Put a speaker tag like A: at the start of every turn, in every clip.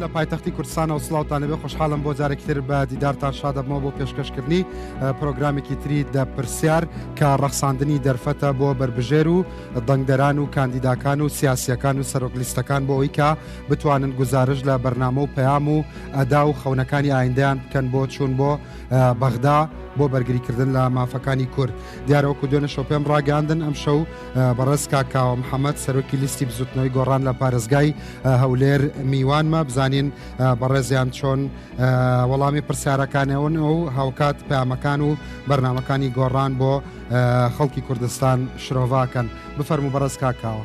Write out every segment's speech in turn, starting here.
A: لە پایتەختی کوردستانەوە سلااوانەبێ خۆشحاڵم بۆ جارێکتر بە دیدارتان شادەبمەوە بۆ پێشکەشکردنی پرۆگرامێکی تری دە پرسیار کە ڕەخساندنی دەرفەتە بۆ بربژێر و دەنگدەران و کاندیداکان و سیاسیەکان و سەرۆک لیستەکان بۆ ئەوی کە بتوانن گوزارش لە بەرنامە و پەیام و ئەدا و خەونەکانی ئایندەیان بکەن بۆ چوون بۆ بەغدا بۆ بەرگریکردن لە مافەکانی کورد دیارەوەکو دوێنە شەو پێم ڕاگەاندن ئەم شەو بەڕێز کاکاوە محەممەد سەرۆکی لیستی بزوتنەوەی گۆڕان لە پارێزگای هەولێر میوانمە بزانین بەڕێزیان چۆن وەڵامی پرسیارەکانەوەن ئەو هاوکات پامەکان و بەرنمەکانی گۆڕان بۆ خەڵکی کوردستان شرۆڤاکەن بفەرمو بەڕێز کاکاوە.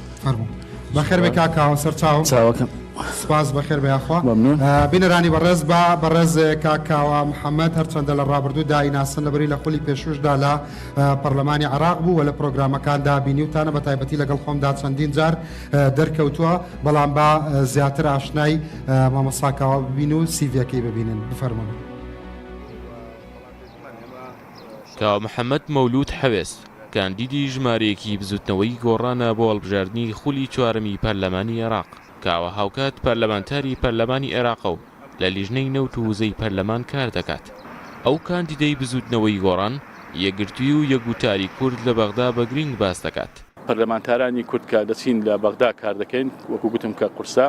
A: فەرموو بەخێربێ کاکە سەر چاوم چاوەکەم سپاس بەخێر بەیاخوا ممنون آه، بینەرانی بەڕێز بە بەڕێز کاکاوە محەممەد هەرچەندە لە ڕابردوو دایناسن لەبری لە خولی پێشوشدا لە آه، پەرلەمانی عراق بوو و لە پرۆگرامەکاندا بینیوتانە بە تایبەتی لەگەڵ خۆمدا چەندین جار آه، دەرکەوتووە بەڵام با آه، زیاتر ئاشنای آه، مامۆساکاوە ببین و سیڤەکەی ببینن بفەرمونون
B: کاوە محەمەد مەولوود حەوێس، کاندیدی ژمارەیەکی بزووتنەوەی گۆڕانە بۆ هەڵبژاردنی خولی چوارەمی پەرلەمانی عێراق، کاوە هاوکات پەرلەمانتاری پەرلەمانی عێراقە و لە لیژنەی نەوت و وزەی پەرلەمان کار دەکات. ئەو کاندیدەی بزووتنەوەی گۆڕان، یەکگرتووی و یەکگوتاری کورد لە بەغدا بە گرینگ باس دەکات. پەرلەمانتارانی کورد
C: کە دەچین لە بەغدا کار دەکەین، وەکو گوتم کە قورسە.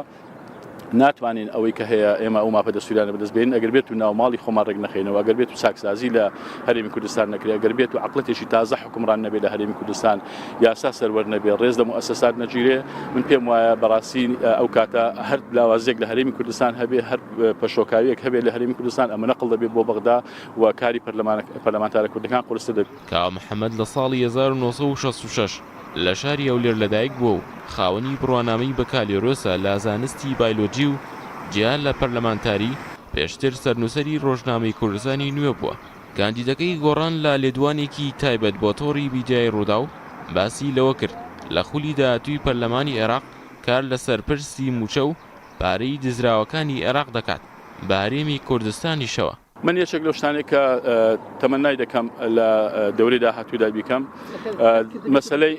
C: ناتوانین ئەوەی کە هەیە ئێمە ئەو ماپە دەستوریانە بەدەست بێن ئەگەر بێت و ناوماڵی خۆمان ڕێک نەخینەوە ئەگەر بێت و چاکسازی لە هەرێمی کوردستان نەکرێ ئەگەر بێت و عقلەتێکی تازە حکومڕان نەبێت لە هەرێمی کوردستان یاسا سەروەر نەبێ ڕێز لە موسسات نەگیرێ من پێم وایە بەڕاستی ئەو کاتە هەر لاوازێک لە هەرێمی کوردستان هەبێ هەر پەشۆکاویەک هەبێت لە هەرێمی کوردستان ئەمە نەقل دەبێت بۆ بەغدا و کاری پەرلەمانەکە پەرلەمانتارە کوردەکان قورستە دەبێت. کاوە محەمەد لە
B: ساڵی 1966 لە شاری هەولێر لەدایک بووە و خاوەنی بڕوانامەی بەکالۆرۆسە لە زانستی بایلۆجی و جیا لە پەرلەمانتاری، پێشتر سەرنووسەری رۆژنامەی کوردستانی نوێ بووە. کاندیدەکەی گۆڕان لە لێدوانێکی تایبەت بۆ تۆڕی میدیای رووداو باسی لەوە کرد، لە خولی داهاتووی پەرلەمانی عێراق کار لەسەر پرسی مووچە و پارەی دزراوەکانی عێراق دەکات، بە هەرێمی کوردستانیشەوە. من یەکێک لەو
C: شتانێک کە تەمەنای دەکەم لە دەورەی داهاتوودا بیکەم مەسلەی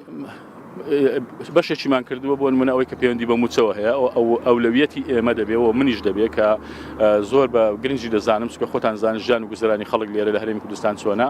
C: بەشێکیمان کردووە بۆ منە ئەوەی کە پەیوەندی بە موچەوە هەیە ئەو ئەولەویەتی ئێمە دەبێت و منیش دەبێت کە زۆر بە گرنگجی دەزانم سکە خۆتان زانان ژیان و گوزرانی خەڵک لێرە لە هەرێمی کوردستان چۆنا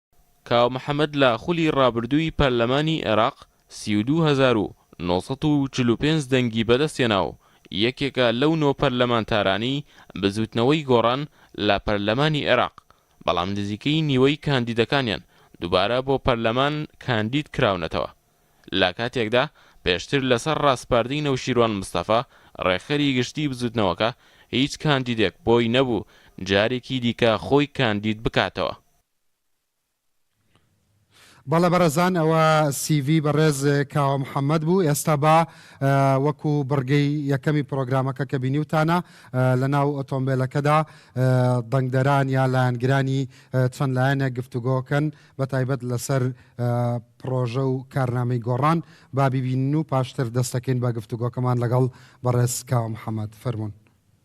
C: کاوە
B: محەمەد لە خولی ڕابردووی پەرلەمانی عێراق سی و دوو هەزار و نۆ سەد و چل و پێنج دەنگی بەدەستهێنا و یەکێکە لەو نۆ پەرلەمانتارانەی بزووتنەوەی گۆڕان لە پەرلەمانی عێراق، بەڵام نزیکەی نیوەی کاندیدەکانیان دووبارە بۆ پەرلەمان کاندید کراونەتەوە، لە کاتێکدا پێشتر لەسەر ڕاسپاردەی نەوشیروان مستەفا ڕێکخەری گشتی بزووتنەوەکە هیچ کاندیدێک بۆی نەبوو جارێکی دیکە خۆی کاندید بکاتەوە.
A: بەڵێ بەڕێزان ئەوە سی ڤی بەڕێز کاوە محەمەد بوو ئێستا با وەکو بڕگەی یەکەمی پرۆگرامەکە کە بینیوتانە لە ناو ئۆتۆمبیلەکەدا دەنگدەران یا لایەنگرانی چەند لایەنێک گفتوگۆکەن بە تایبەت لەسەر پرۆژە و کارنامەی گۆڕان با ببینن و پاشتر دەستەکەین بە گفتوگۆکەمان لەگەڵ بەڕێز کاوە محەمەد فەرمونون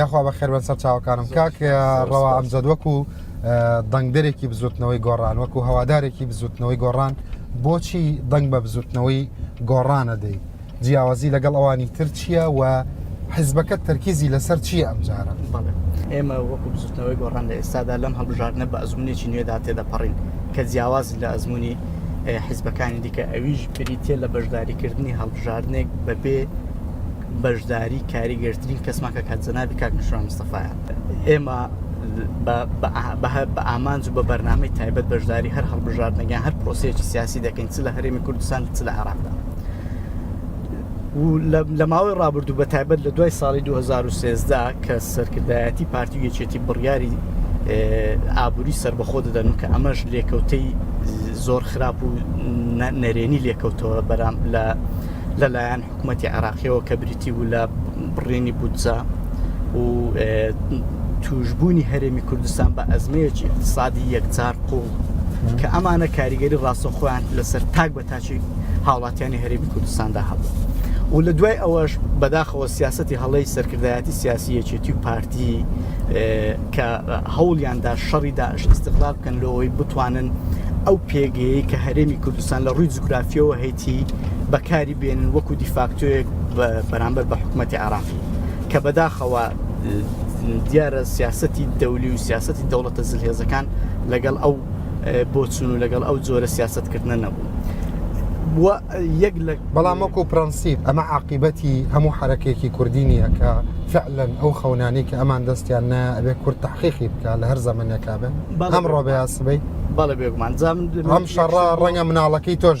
A: یاخوا بە خێربەن سەر چاوەکانم کاک ڕەوا ئەمجد وەکو دەنگدەرێکی بزوتنەوەی گۆڕان وەکو هەوادارێکی بزوتنەوەی گۆڕان بۆچی دەنگ بە بزوتنەوەی گۆڕانە دەی جیاوازی لەگەڵ ئەوانی تر چییە و حزبەکە تەرکیزی لەسەر چییە ئەم جارە ئێمە
D: وەکو بزوتنەوەی گۆڕان لە ئێستادا لەم هەڵبژاردنە بە ئەزمونێکی نوێدا تێدەپەڕین کە جیاواز لە ئەزمموی حیزبەکانی دیکە ئەویش بریتە لە بەشداریکردنی هەڵبژاردنێک بەبێ بەشداری کاریگەرترین کەسمان کە کاک جەنابی کاک نوشیروان مستەفایە ئێمە بە ئامانج و بە بەرنامەی تایبەت بەشداری هەر هەڵبژاردنەگەیان هەر پرۆسەیەکی سیاسی دەکەین چ لە هەرێمی کوردستان چ لە عراقدا لە ماوەی ڕابردوو بە تایبەت لە دوای ساڵی 2013 کە سەرکردایەتی پارتی و یەکێتی بڕیاری ئابووری سربەخۆ دەدەن و کە ئەمەش لێکەوتەی زۆر خراپ و نەرێنی لێکەوتەوە بەرام لە لەلایەن حکومەتی عێراقیەوە کە بریتی بوو لە بڕێنی بودجە و توشببوونی هەرێمی کوردستان بە ئەزمەیەکی اقتصادی یەکجار قوڵ کە ئەمانە کاریگەری ڕاستە خۆیان لەسەر تاک بە تاچی هاوڵاتیانی هەرێمی کوردستاندا هەبوو و لە دوای ئەوەش بەداخەوە سیاستی هەڵی سەرکردایەتی سیاسی یەکێتی و پارتی کە هەوڵیاندا شەڕی داعش استغلال بکەن لەوەی بتوانن ئەو پێگەیەی کە هەرێمی کوردستان لە ڕووی جوگرافیەوە هەیتی بەکاری بێنن وەکو دیفاکتۆیەک بەرامبەر بە حکومەتی عێراقی کە بەداخەوە دیارە سیاستی دەولی و سیاستی دەوڵەتە زلهێزەکان لەگەڵ ئەو بۆچون و لەگەڵ ئەو جۆرە سیاست کردنە نەبوو یەک لە
A: بەڵام وەکو پرەنسیب ئەمە عقیبەتی هەموو حرەکێکی کوردی نییە کە فعلەن ئەو خەونانی کە ئەمان دەستیان نە ئەبێ کورد تحقیقی بکە لە هەر زەمنێکا بن ئەم ڕۆبەیاسبی بەڵێ بێگومان
D: ئەم شەڕ
A: ڕەنگە مناڵەکەی تۆش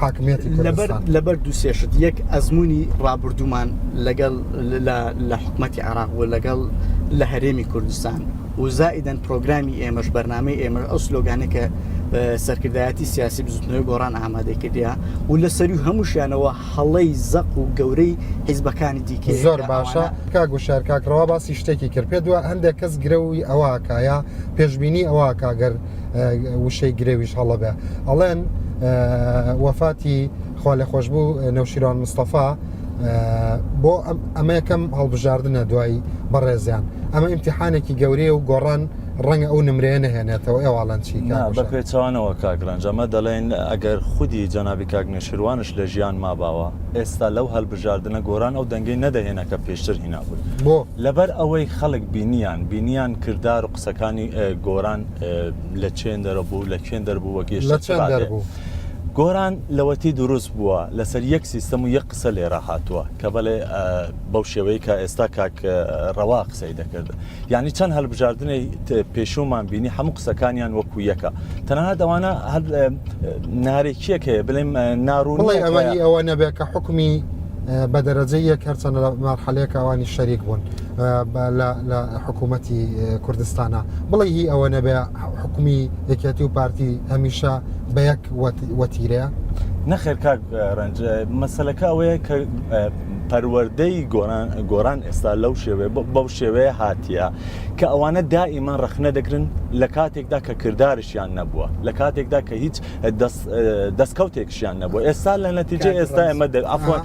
A: حاکمیەتی لەبەر لەبەر
D: دوو سێشت یەک ئەزمموی ڕابردوومان لەگەڵ لە حکوومەتتی عراق و لەگەڵ لە هەرێمی کوردستان وزائیدەن پرۆگرامی ئێمەش بەرنمەی ئێمە ئەو سلۆگانە کە سەرکردایەتی سیاسی بزوتنەوەی گۆڕان ئامادەی کردیا و لە سەری هەمووشیانەوە هەڵەی زەق و گەورەی حیزبەکانی دیکە زۆر باشە
A: کا گوشار کاکڕەوە باسی شتێکی کرد پێ دووە هەندێک کەس گرەوی ئەوەکایە پێشببینی ئەوە کاگەر وشەی گرێویش هەڵە بێ ئەڵێن وەفاتی خوا لە خۆش بوو نەوشیران مستەفا بۆ ئەمە یەکەم هەڵبژاردنە دوایی بەڕێزیان ئەمە ئیمتحانێکی گەورەیە و گۆڕان ڕەنگە ئەو نمرەیە نهێنێتەوە ئێواڵەن چی بە پێچوانەوە
E: کاگرنج ئەمە دەڵێن ئەگەر خودی جەنابی کاگنێشیروانش لە ژیان ماباوە ئێستا لەو هەلبژاردنە گۆران ئەو دەنگی نەدەهێنە کە پێشتر هینابووی بۆ لەبەر
A: ئەوەی
E: خەڵک بینیان بینیان کردار و قسەکانی گۆران لە چێن دەرەبوو لە کوێن دەربوو وە گەشت گۆران لەوەتی دروست بووە لەسەر یەک سیستەم و یەک قسە لێرە هاتووە کە بەڵێ بەو شێوەیە کە ئێستا کاک ڕەوا قسەی دەکرد ینی چەند هەلبژاردنەی پێشومان بینی هەموو قسەکانیان وەکو یەکە تەنها دەوانە هەر نارێکیەک هەیە بڵێم ناڕوون ئەوەی ئەوە نەبێت
A: کە حکومی بە دەرەجە یەک هەرچەنە لە مارحەلەیەکەوانی شەریک بوون لە لە حکوومەتی کوردستانە بڵێ هی ئەوە نەبێ حکومی یەکێتی و پارتی هەمیشە بە یەک وەتیرەیە نەخێر
E: کاک ڕنج مەسلەکە ئەوەیە کە پەروەەردەی گۆران گۆران ئێستا لەو شێوێ بەو شێوەیە هاتیە کە ئەوانە دائیمە ڕخنە دەکرن لە کاتێکدا کە کردارشیان نەبووە لە کاتێکدا کە هیچ دەستکەوتێکشیان نەبووە ئێستا لە نەتیجە ئێستا ئەمە ئەفۆن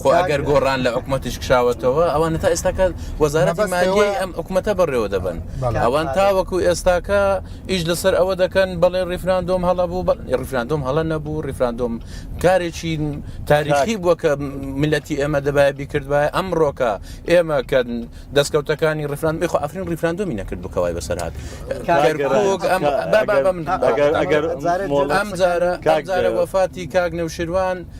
F: خۆ ئەگەر گۆڕان لە حکوومەتیش کشاوەتەوە ئەوانە تا ئێستاکە وەزارەتی مالیەوەی ئەم حکوومەتە بەڕێوە دەبن ئەوان تاوەکو ئێستاکە ئیش لەسەر ئەوە دەکەن بەڵێ ڕیفراندۆم هەڵە بوو ڕیفراندۆم هەڵە نەبوو ڕیفراندۆم کارێکی تاریخی بووە کە ملەتی ئێمە دەبای بیکردبە ئەمڕۆکە ئێمە کە دەستکەوتەکانی ڕفران بخۆ ئەفرین ڕیفراندۆمی نەکرد بکەوای بەسەر هاات ئەم جارە وەفاتی کاک نەوشیروان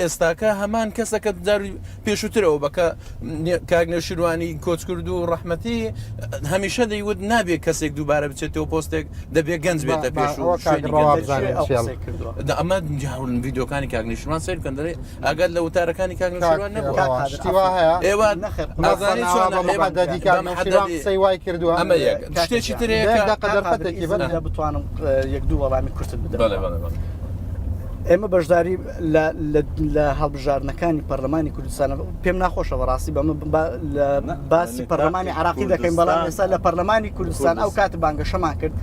F: ئێستاکە هەمان کەسە کە جاری پێشووترەوە بە کە کاک نەوشیروانی کۆچکرد و ڕەحمەتی هەمیشە دەیوت نابێت کەسێک دووبارە بچێتەوە پۆستێک دەبێت گەنج بێتە پێش و ئەمە جاون یددیوکانی کاک نشمان سیر کەن دەێ ئەگەر لە وتارەکانی کاک نشوان نەبوو ئێوە نازانی قسەی وای
A: کردووە ئەمە شتێکی ترێ بتوانم یەک دوو وەڵامی کورتت
F: بدە ئێمە
D: بەشداری لە هەڵبژاردنەکانی پەرلەمانی کوردستان پێم ناخۆشە بەڕاستی بەمە باسی پەرلەمانی عراقی دەکەین بەڵام ئێستا لە پەرلەمانی کوردستان ئەو کات بانگەشەمان کرد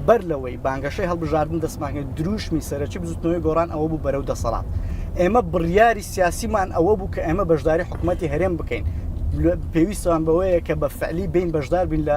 D: بەر لەوەی بانگەشەی هەڵبژاردن دەستمانکرد دروشمی سەرەکی بزوتنەوەی گۆڕان ئەوە بوو بەرەو دەسەڵات ئێمە بڕیاری سیاسیمان ئەوە بوو کە ئێمە بەشداری حکوومەتتی هەرێم بکەین پێویستوان بەوەیە کە بە فعلی بین بەشدار بین لە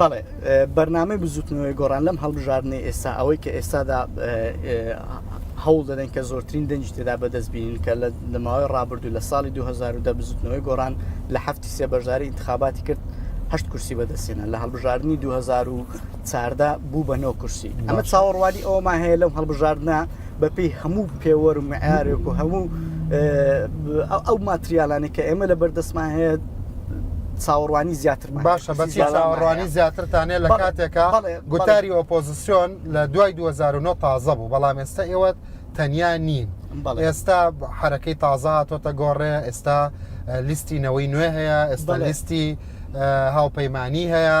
A: بەڵێ
D: بەرنامەی بزوتنەوەی گۆڕان لەم هەڵبژاردنەی ئێستا ئەوەی کە ئێستادا هەوڵ دەدەن کە زۆرترین دەنج تێدا بەدەست بینین کە لە دەماوەی ڕابردوو لە ساڵی 2010 بزوتنەوەی گۆڕان لە هەفتی سێ بەشداری انتخاباتی کرد هەشت کورسی بەدەستێنە لە هەڵبژاردننی 2014 بوو بە نۆ کورسی ئەمە چاوەڕوانی ئەومان هەیە لەم هەڵبژاردنە بەپێی هەموو پێوەر و معیارێک و هەموو ئەو ماتریالانی کە ئێمە لە بەردەستمان هەیە چاوەڕوانی زیاتر باشە بەچی چاوەڕوانی
A: زیاترتانێ لە کاتێکە گوتاری ئۆپۆزیسیۆن لە دوای 2009 تازە بوو بەڵام ئێستا ئێوە تەنیا نین ئێستا حرەکەی تازە هاتۆتە گۆڕێ ئێستا لیستی نەوەی نوێ هەیە ئێستا لیستی هاوپەیمانی هەیە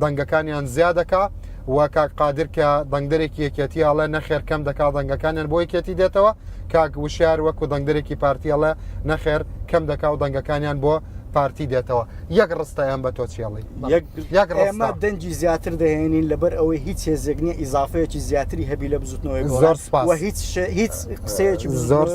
A: دەنگەکانیان زیا دەکا و کاک قادر کە دەنگدەرێکی یەکێتی ئەڵێ نەخێر کەم دەکا دەنگەکانیان بۆ یەکێتی دێتەوە کاک وشار وەکو دەنگدەرێکی پارتی ئەڵێ نەخێر کەم دەکا و دەنگەکانیان بۆ پارتی دێتەوە یەک ڕستە ئەم بە تۆچێڵی ئێمە
D: دەنجی زیاتر دەهێنین لەبەر ئەوەی هیچ هێزێک نیە ئیزافەیەکی زیاتری هەبی لە بزوتنەوەی زۆر هیچ
A: هیچ
D: قسەیەکی زۆر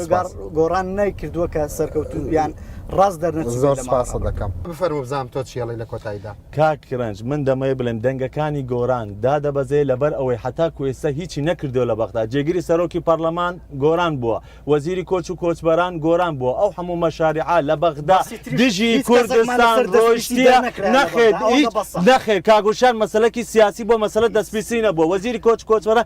D: گۆڕان نایکردووە کە سەرکەوتوبیان ڕاست دەرنە زۆر سپاسە دەکەم
A: بفەرمو بزانام تۆ چیڵی لە کۆتاییدا کاک گرنج من
E: دەمەوێ بڵێم دەنگەکانی گۆران دادەبەزێ لەبەر ئەوەی حەتاکو ئێستا هیچی نەکردوە لە بەغدا جێگری سەرۆکی پەڕلەمان گۆران بوە وەزیری کۆچ و کۆچبەران گۆران بوە ئەو حەموو مەشاریعە لە بەغدا دژی کوردستان ڕۆیشتیە نەخێر هیچ نەخێر کاک وشیار مەسەلەکی سیاسی بۆ مەسەلە دەسپیسی نەبوە وەزیری کۆچ کۆچبەران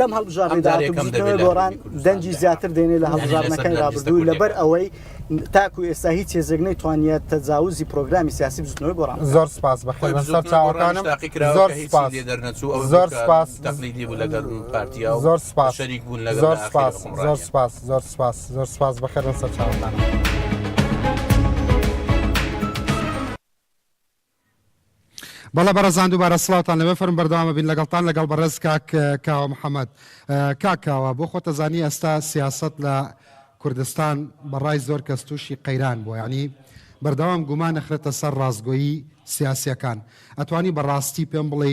D: لەم هەڵبژاردەگۆڕان دەنجی زیاتر دێنێ لە هەڵبژاردنەکانی رابردوو لەبەر ئەوەی تاکو ئێستا هیچ هێزێکنەی توانیت تەجاوزی پرۆگرامی سیاسی بزنەوەی گۆڕان زۆر سپاس بە
A: سەر چاوەکانم زۆر سپاس دەرنەچوو زۆر سپاس
F: تەقلیدی بوو لەگەر پارتیا
A: و زۆر سپاس شەریک بوون لەگەر زۆر سپاس زۆر سپاس زۆر سپاس زۆر سپاس بەخێرن سەر چاوتان. بەڵە بەرەزان دووبارە سلااوان لەوێ فەرم بەردەوامە بین لەگەڵتان لەگەڵ بەڕێز کاک کاوە محەممەد کاکاوە بۆ خۆتەزانی ئێستا سیاست لە کوردستان بەڕای زۆر کەس تووشی قەیران بووە ینی بەردەوام گومان نەخرێتە سەر ڕاستگۆیی سیاسیەکان ئەتوانی بەڕاستی پێم بڵێ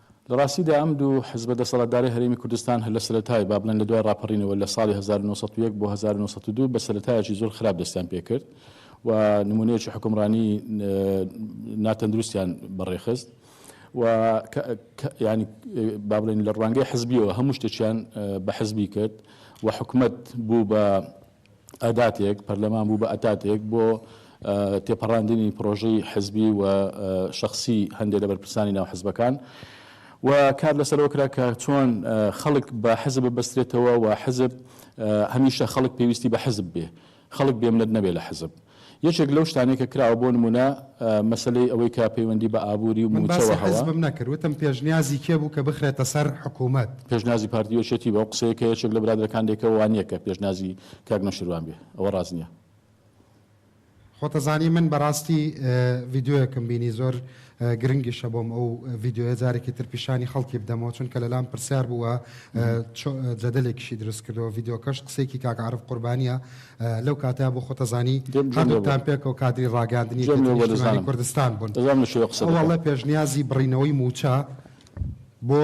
C: لە ڕاستیدا ئەم دوو حزبە دەسەڵاتدارەی هەرێمی کوردستان هەر لە سەرەتای، با بڵێن لە دوای ڕاپەڕینەوە لە ساڵی هەزار و نۆ سەد و یەک بۆ هەزار و نۆ سەد و دوو بە سەرەتایەکی زۆر خراپ دەستیان پێ کرد و نموونەیەکی حوکمڕانی ناتەندروستیان بە ڕێ خست و یانی با بڵێن لە ڕوانگەی حزبیەوە هەموو شتێکیان بە حزبی کرد و حکومەت بوو بە ئەداتێک، پەرلەمان بوو بە ئەتاتێک بۆ تێپەڕاندنی پڕۆژەی حزبی و شەخسی هەندێ لە بەرپرسانی ناو حزبەکان و کار لەسەرەوە کرا کە چۆن خەڵک بە حزب ببەسترێتەوە و حزب هەمیشە خەڵک پێویستی بە حزب بێ، خەڵک بێمنەت نەبێ لە حزب. یەکێک لەو شتانەی کە کراوە بۆ نموونە مەسەلەی ئەوەی کە پەیوەندی بە ئابووری و من باسی مووچەوە هەوە. حزبم نەکرد وتم
A: پێشنیازی کێ بوو کە بخرێتە سەر حکوومەت؟ پێشنیازی پارتی
C: یەکێتی بوو، ئەو قسەیە کە یەکێک لە برادەرەکان دەیکە وا نییە کە پێشنیازی کاک نەوشیروان بێ ئەوە ڕاست نییە. خۆتەزانی
A: من بەڕاستی ڤیدیۆیەکم بینی زۆر. گرنگیشە بۆم ئەو ڤیدیۆیە جارێکی تر پیشانی خەڵکی بدەمەوە چونکە لەلام پرسیار بوو و جەدەلێکیشی دروست کردەوە ڤیدیۆکەش قسەیەکی کاک عارف قوربانیە لەو کاتەیا بۆ خۆتە زانی هەردووکتان پێکەوە کادری ڕاگەیاندنی نیشتمانی کوردستان بوون وەڵڵا پێشنیازی بڕینەوەی مووچە بۆ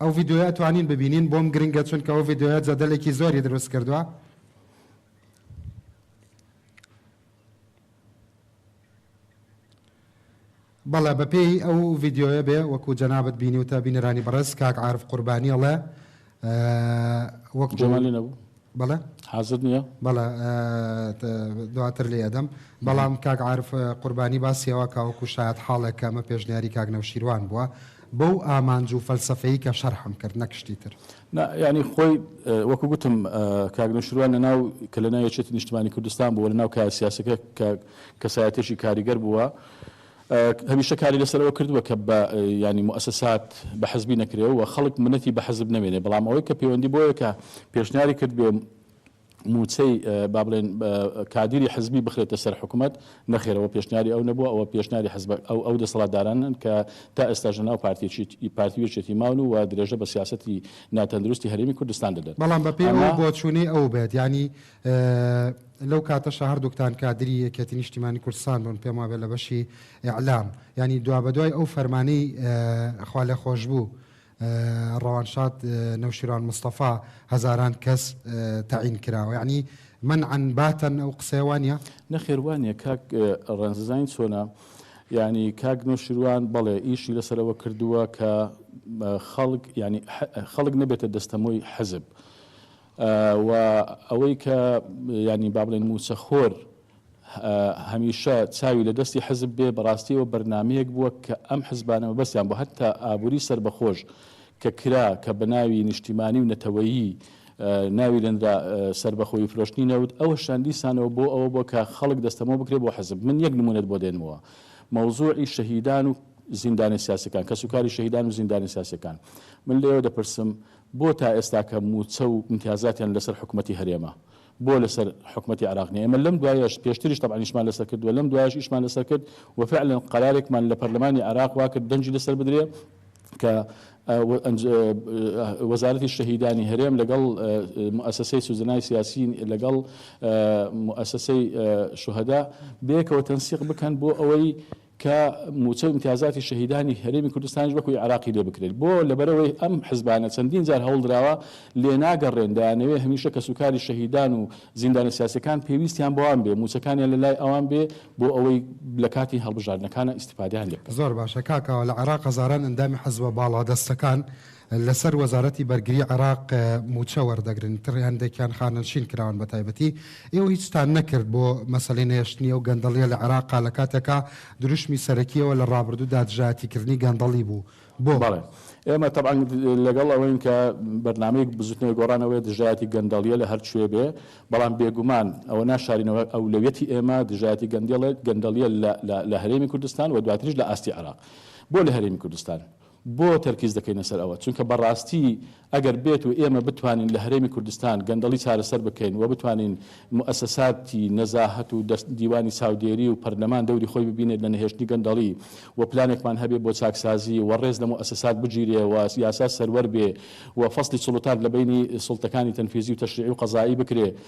A: ئەو ڤیدیۆیە ئەتوانین ببینین بۆم گرنگە چونکە ئەو ڤیدیۆیە جەدەلێکی زۆری دروست کردوە. بەڵێ بەپێی ئەو ڤیدیۆیە بێ وەکو جەنابت بینیوتە بینەرانی بەڕێز کاک عارف قوربانی ئەڵێ وەکو جەمالی نەبوو.
C: بەڵێ حازر
A: نیە؟
C: بەڵێ
A: دواتر لێی ئەدەم بەڵام کاک عارف قوربانی باسی ئەوە کە وەکو شایەت حاڵێک کە ئەمە پێشنیاری کاک نەوشیروان بووە بەو ئامانج و فەلسەفەی کە شەرحم کرد نەک شتی تر. نا یانی خۆی
C: وەکو گوتم کاک نەوشیروان لەناو کە لەناو یەکێتی نیشتمانی کوردستان بووە لەناو کایە سیاسەکە کە کەسایەتێکی کاریگەر بووە هەمیشە کاری لەسەر ئەوە کردووە کە بە یانی موئەسەسات بە حزبی نەکرێ و خەڵک منەتی بە حزب نەمێنێ بەڵام ئەوەی کە پێوەندی بۆیە کە پێشنیاری کردبێ مووچەی با بڵێن کادیری حزبی بخرێتە سەر حکوومەت نەخێر ئەوە پێشنیاری ئەو نەبووە ئەوە پێشنیاری حزب ئەو ئەو دەسەڵاتدارانن کە تا ئێستا ژە ناو پارتیی پارتی وێچێتی ماون و درێژە بە سیاستی ناتەندروستی هەرێمی کوردستان دەدەن بەڵام بەپێی ئەو
A: بۆچوونەی ئەو بێت یانی لەو کاتەشا هەردووکتان کادری یەکێتی نیشتیمانی کوردستان بوون پێم وابێت لە بەشی ئیعلام یانی دوابەدوای ئەو فەرمانەی خوا لێ خۆش بوو ڕەوانشاد نەوشیروان مستەفا هەزاران کەس تەعین کراوە یعنی من عن باتن ئەو قسەیە وانە نەخێر وانە
C: کاک ڕێنززانین چۆنا ینی کاک نۆشیروان بەڵێ ئیشی لەسەرەوە کردووە کە خەڵک ینی خەڵک نەبێتە دەستەمۆی حەزب. و ئەوەی کە یانی با بڵێین مووچەخۆر هەمیشە چاوی لە دەستی حزب بێ بەڕاستی ئەوە بەرنامەیەک بووە کە ئەم حزبانە مەبەستیان بوو هەتا ئابووری سەربەخۆش کە کرا کە بە ناوی نیشتیمانی و نەتەوەیی ناوی لەنرا سەربەخۆی فرۆشتنی نەوت ئەوەشیان دیسانەوە بۆ ئەوە بووە کە خەڵک دەستەمۆ بکرێ بۆ حزب من یەک نموونەت بۆ دێنمەوە مەوزوعی شەهیدان و زیندانە سیاسەکان کەسوکاری شەهیدان و زیندانە سیاسەکان من لێوە دەپرسم بۆ تا ئێستا کە مووچە و ئیمتیازاتیان لەسەر حکومەتی هەرێمە بۆ لەسەر حکومەتی عێراق نیە؟ ئێمە لەم دوایەش پێشتریش تەبعەن ئیشمان لەسەر کرد و لەم دوایەش ئیشمان لەسەر کرد و فعلا قەرارێکمان لە پەرلەمانی عێراق وا کرد دەنگی لەسەر بدرێ کە وەزارەتی شەهیدانی هەرێم لەگەڵ موسسەی سوزنای سیاسی لەگەڵ موسسەی شوهدا بەیەکەوە تەنسیق بکەن بۆ ئەوەی کە موچە و ئیمتیازاتی شەهیدانی هەرێمی کوردستانیش وەکو عێراقی لێ بکرێت بۆ؟ لەبەرئەوەی ئەم حزبانە چەندین جار هەوڵدراوە لێناگەڕێن، دەیانەوێت هەمیشە کەسوکاری شەهیدان و زیندانە سیاسیەکان پێویستیان بەوان بێت، موچەکانیان لەلای ئەوان بێت بۆ ئەوەی لەکاتی هەڵبژاردنەکانە ئیستیفادەیان لێ بکەن. زۆر باشە کاکە، لە عێراق
A: هەزاران ئەندامی حزبە باڵادەستەکان لەسەر وەزارەتی بەرگری عێراق مووچە وەردەگرن تڕ هەندێکیان خانەنشین کراون بەتایبەتی ئێوە هیچتان نەکرد بۆ مەسەلەی نەهێشتنی ئەو گەندەڵیە لە عێراقا لە کاتێکا دروشمی سەرەکیەوە لە ڕابردوودا دژایەتیکردنی گەندەڵی بوو بۆ بەڵێ ئێمە
C: تەبعەن لەگەڵ ئەوەین کە بەرنامەی بزوتنەوەی گۆڕان ئەوەیە دژایەتی گەندەڵیە لە هەر کوێ بێ بەڵام بێگومان ئەوە ناشارینەوە ئەولەویەتی ئێمە دژایەتی گەندەڵێت گەندەڵیە لە لە لە هەرێمی کوردستان و دواتریش لە ئاستی عێراق بۆ لە هەرێمی کوردستان بۆ تەرکیز دەکەینە سەر ئەوە؟ چونکە بەڕاستی ئەگەر بێت و ئێمە بتوانین لە هەرێمی کوردستان گەندەڵی چارەسەر بکەین و بتوانین موئەسەساتی نەزاهەت و دەست دیوانی چاودێری و پەرلەمان دەوری خۆی ببینێت لە نەهێشتنی گەندەڵی و پلانێکمان هەبێ بۆ چاکسازی و ڕێز لە موئەسەسات بگیرێ و یاسا سەروەر بێ و فەسڵی سوڵتات لە بەینی سوڵتەکانی تەنفیزی و تەشریعی و قەزائی بکرێ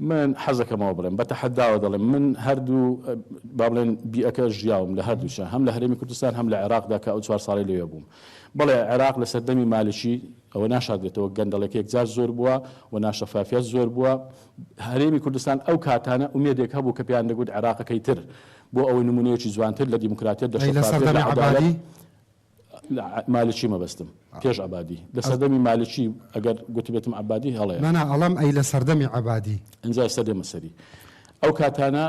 A: من
C: حەزەکەمەوە بڵێم، بە تەحەداوە دەڵێم، من هەردوو با بڵێن بیئەکە ژیاوم لە هەردووچە، هەم لە هەرێمی کوردستان هەم لە عێراقدا کە ئەو چوار ساڵەی لەوێ بووم. بەڵێ عێراق لە سەردەمی مالکی ەوە ناشاردرێتەوە، گەندەڵێک یەکجار زۆر بووە و ناشەفافیەت زۆر بووە. هەرێمی کوردستان ئەو کاتانە ئومێدێک هەبوو کە پێیان دەگوت عێراقەکەی تر بۆ ئەوەی نموونەیەکی جوانتر لە دیموکراتیەت، لە شەفافیەت، لە عەدالەت، مالکی مەبەستم پێش عەبادی. لە سەردەمی مالکی ئەگەر گوتبێتم عەبادی هەڵەیە. نانا ئەڵێم ئەی لە
A: سەردەمی عەبادی. ئینجا ئێستا دێمە
C: سەری. ئەو کاتانە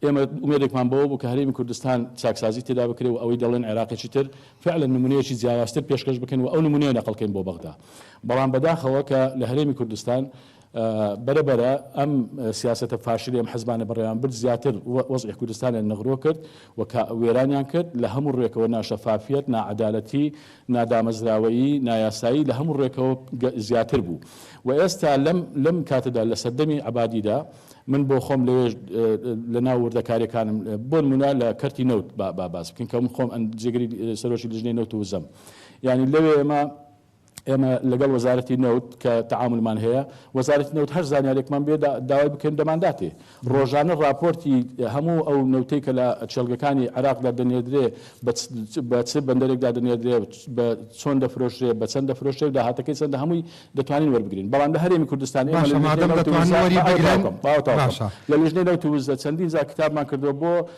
C: ئێمە ئومێدێکمان بەوە بوو کە هەرێمی کوردستان چاکسازی تێدا بکرێ و ئەوەی دەڵێن عێراقێکی تر فعلا نمونەیەکی جیاوازتر پێشکەش بکەن و ئەو نمونەیە نەقڵکەین بۆ بەغدا. بەڵام بەداخەوە کە لە هەرێمی کوردستان بەرە بەرە ئەم سیاسەتە فاشلەی ئەم حزبانە بەڕێوەیان برد زیاتر وەزعی کوردستانیان نغرۆ کرد و وێرانیان کرد لە هەموو ڕوێکەوە ناشەفافیەت، ناعەدالەتی، نادامەزراوەیی، نایاسایی لە هەموو ڕوێکەوە زیاتر بوو و ئێستا لەم لەم کاتەدا لە سەردەمی عەبادیدا من بۆ خۆم لەوێش لە ناو وردەکاریەکانم بۆ نمونە لە کەرتی نەوت با باس بکەین کە من خۆم جێگری سەرۆکی لیژنەی نەوت و وزەم یانی لەوێ ئێمە ئێمە لەگەڵ وەزارەتی نەوت کە تەعامولمان هەیە، وەزارەتی نەوت هەر زانیارێکمان بێ داوای بکەین دەمانداتێ. ڕۆژانە ڕاپۆرتی هەموو ئەو نەوتەی کە لە کێڵگەکانی عێراقدا دەنێردرێ بە چ بەندەرێکدا دەنێردرێ، بە چۆن دەفرۆشرێ، بە چەند دەفرۆشرێ و داهاتەکەی چەندە هەمووی دەتوانین وەربگرین. بەڵام لە هەرێمی کوردستان ئێمە لە لیژنەی نەوت و وزە، ماوە تەواو کەم، ماوە تەواو کەم، لە لیژنەی نەوت و وزە چەندین جار کتابمان کردووە بۆ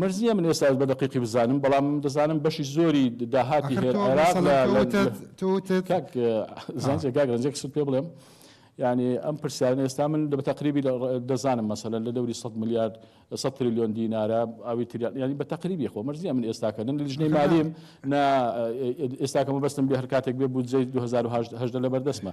A: مەرج نیە من
G: ئێستا بە دەقیقی بزانم بەڵام دەزانم بەشی زۆری داهاتی ئەخر هێر تۆ عێراق مەسەڵەن لە لە کەوتت توتت کاک ها زانسێ کاک ڕەنجێک سوت پێ بڵێم یعنی ئەم پرسیارن ئێستا من لە بەتەقریبی لە ڕ- دەزانم مەسەلەن لە دەوری سەد ملیارد سەد تریلیۆن دینارە ئەوی تریان یعنی بە تەقریبی خۆ مەرج نیە من ئێستا کە نە لیژنەی ئەخر نا مالیم نا ئێ- ئێ- ئێستا کە مەبەستم بێ هەر کاتێک بێ بودجەی دوو هەزار و هەژدە هەژدە لەبەردەستمە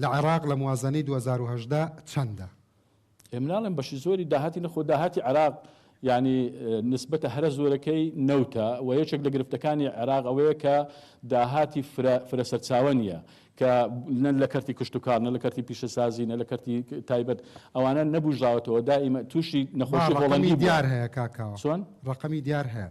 A: لە عێراق لە موازەنەی دوو هەزار و هەژدە چەندە؟ ئێ مناڵێم
G: بەشی زۆری داهاتی نەخۆ داهاتی عێراق یانی نسبەتە هەرە زۆرەکەی نەوتە وە یەکێک لە گرفتەکانی عێراق ئەوەیە کە داهاتی فرە فرە سەرچاوە نیە کە نە لە کەرتی کشتوکاڵ نە لە کەرتی پیشەسازی نە لە کەرتی تایبەت ئەوانە نەبوژاوەتەوە دائیمە توشی نەخۆشی هۆڵەندی بوە. رەقەمی دیار هەیە
A: کاکە؟ چۆن؟ رەقەمی
G: دیار هەیە؟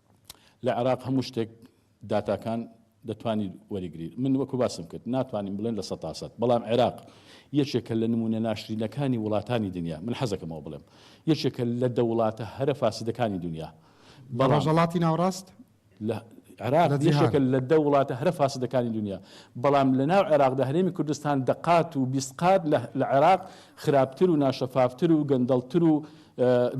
A: لە
G: عێراق هەموو شتێک داتاکان دەتوانیت وەریگریت من وەکو باسم کرد ناتوانین بڵێن لە سەتا سەد بەڵام عێراق یەکێکە لە نمونە ناشرینەکانی وڵاتانی دنیا من حەزەکەمەوە بڵێم یەکێکە لە دەوڵاتە هەرە فاسدەکانی دنیا لە ڕۆژەڵاتی
A: ناوڕاست لە
G: عێراق یەکێکە لە دە وڵاتە هەرە فاسدەکانی دنیا بەڵام لە ناو عێراقدا هەرێمی کوردستان دەقات و بیست قات لە عێراق خراپتر و ناشەفافتر و گەندەڵتر و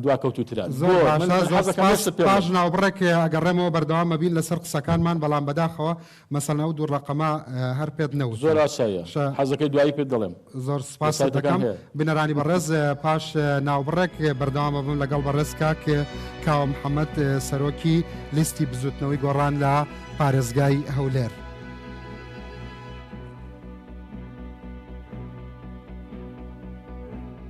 G: دواکەوتوترە. زۆر باشە زۆر
A: سپاس پاش ناوبڕێک ئەگەڕێمەوە بەردەوام ئەبین لەسەر قسەکانمان بەڵام بەداخەوە مەسەلەن ئەو دوو ڕەقەمە هەر پێت نەوتم. زۆر ئاسایە
G: حەزەکەی دوایی پێت دەڵێم. زۆر سپاست دەکەم
A: بینەرانی بەڕێز پاش ناوبڕێک بەردەوام ئەبم لەگەڵ بەڕێز کاک کاوە محەمەد سەرۆکی لیستی بزوتنەوەی گۆڕان لە پارێزگای هەولێر.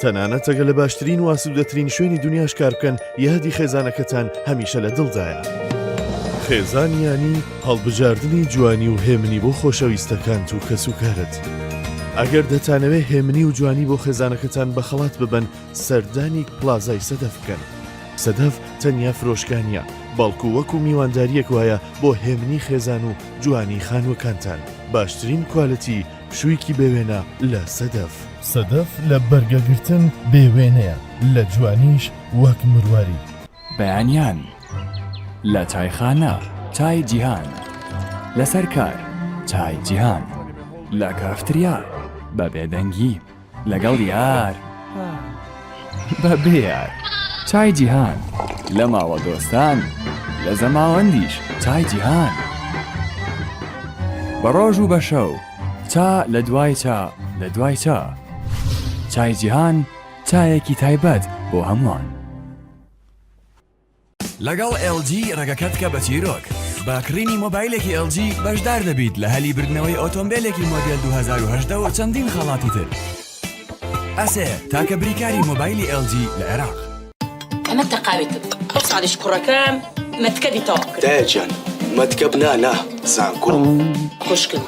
H: تەنانەت ئەگە لە باشترین و ئاسوودەترین شوێنی دنیاش کار بکەن یادی خێزانەکەتان هەمیشە لە دڵدایە. خێزانیانی هەڵبژاردنی جوانی و هێمنی بۆ خۆشەویستەکانت و کەسوکارت. ئەگەر دەتانەوێ هێمنی و جوانی بۆ خێزانەکەتان بە خەڵات ببن سەردانی پلازای سەدەف بکەن. سەدەف تەنیا فرۆشکانە بەڵکو وەکو میوانداریەک وایە بۆ هێمنی خێزان و جوانی خانوەکانتان باشترین کوالەتی پشوویکی بێ وێنە لە سەدەف. سەدەف لە بەرگە گرتن بێ وێنەیە، لە جوانیش وەک مرواری. بەیانیان
I: لە چایخانە چای جیهان. لەسەر کار چای جیهان. لە کافتریا بە بێدەنگی. لەگەڵ یار بە بێ یار چای جیهان لە ماوە دۆستان لە زەماوەندیش چای جیهان بە ڕۆژ و بە شەو چا لە دوای چا لە دوای چا چای جیهان چایەکی تایبەت بۆ هەمووان. لەگەڵ ئێڵ جی ڕێگەکە بکە بە چیرۆک. بە کڕینی مۆبایلێکی ئێڵ جی بەشدار دەبیت لە هەلی بردنەوەی ئۆتۆمبێلێکی مۆدێل 2018 و چەندین خەڵاتی تر. ئەسێ، تاکە بریکاری مۆبایلی ئێڵ جی لە عێراق. ئەمە
J: تەقاویتم ئەو ساڵیش کوڕەکەم مەتکەبی تەواو کرد. دایە گیان
K: مەتکەب نا نا زانکۆ. خوشکم.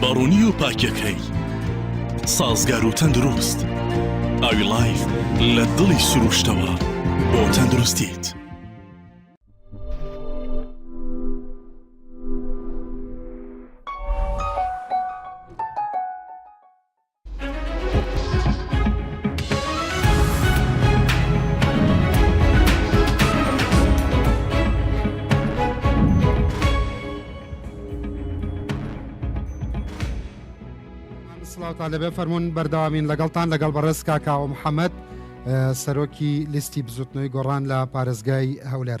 L: بەڕوونی و پاکەکەی سازگار و تەندروست ئاوی لایف لە دڵی سروشتەوە بۆ تەندروستیت.
A: سڵاوتان لەبێ فەرمونون بەرداوامین لەگەڵتان لەگەڵ بەڕێز کاکاوە محەممەد سەرۆکی لیستی بزوتنەوەی گۆڕان لە پارێزگای هەولێر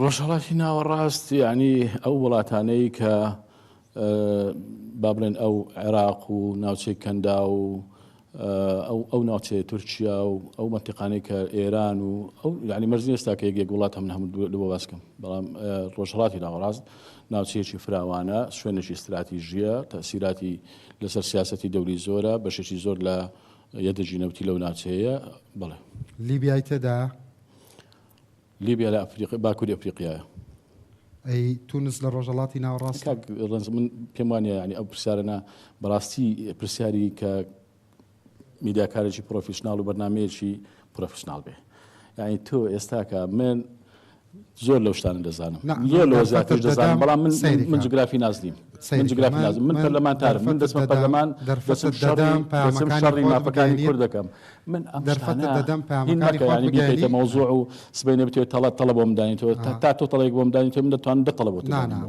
G: ڕۆژهەڵاتی ناوەڕاست یعنی ئەو وڵاتانەی کە با بڵێن ئەو عێراق و ناوچەی کەندا و ئەو ئەو ناوچەیە تورکیا و ئەو منتیقانەی کە ئێران و ئەو یعنی مەرزی ئێستا کە یەک وڵات هەم هەموو لەوە باسکەم بەڵام ڕۆژهڵاتی ناوەڕاست ناوچەیەکی فراوانە شوێنێکی استراتیژیە تەسیراتی لەسەر سیاستی دەوری زۆرە بەشێکی زۆر لە یە دژی نەوتی لەو ناچەیە بەڵێ. لیبیای
A: تێدایە؟
G: لیبیا لە ئەفریقی باکووری ئەفریقیایە. ئەی
A: تونس لە ڕۆژەڵاتی ناوەڕاست کاک ڕەنج من
G: پێم وانە ینی ئەو پرسیارەە بەڕاستی پرسیاری کە میدیاکارێکی پرۆفیشنناڵ و بەرنمەیەکی پرۆفشنناڵ بێ یعنی تۆ ئێستاکە من زۆر لەو شتانە دەزانم زۆر لەوە زیاترش دەزانم بەڵام من من جوگرافی ناس نیم من جوگرافی ناس من پەرلەمانتارم من دەچمە پەرلەمان دەچم شەڕی دەچم شەڕی مافەکانی کورد دەکەم من ئەم شتانە دەدەم پامەکانی خۆت بگەیەنیتە مەوزوع و سبەینێ بتوێت تەڵە تەڵە بۆم دانیتەوە تا تۆ تەڵەیەک بۆم دانیتەوە من دەتوانم دە تەڵە بۆت دانمەوە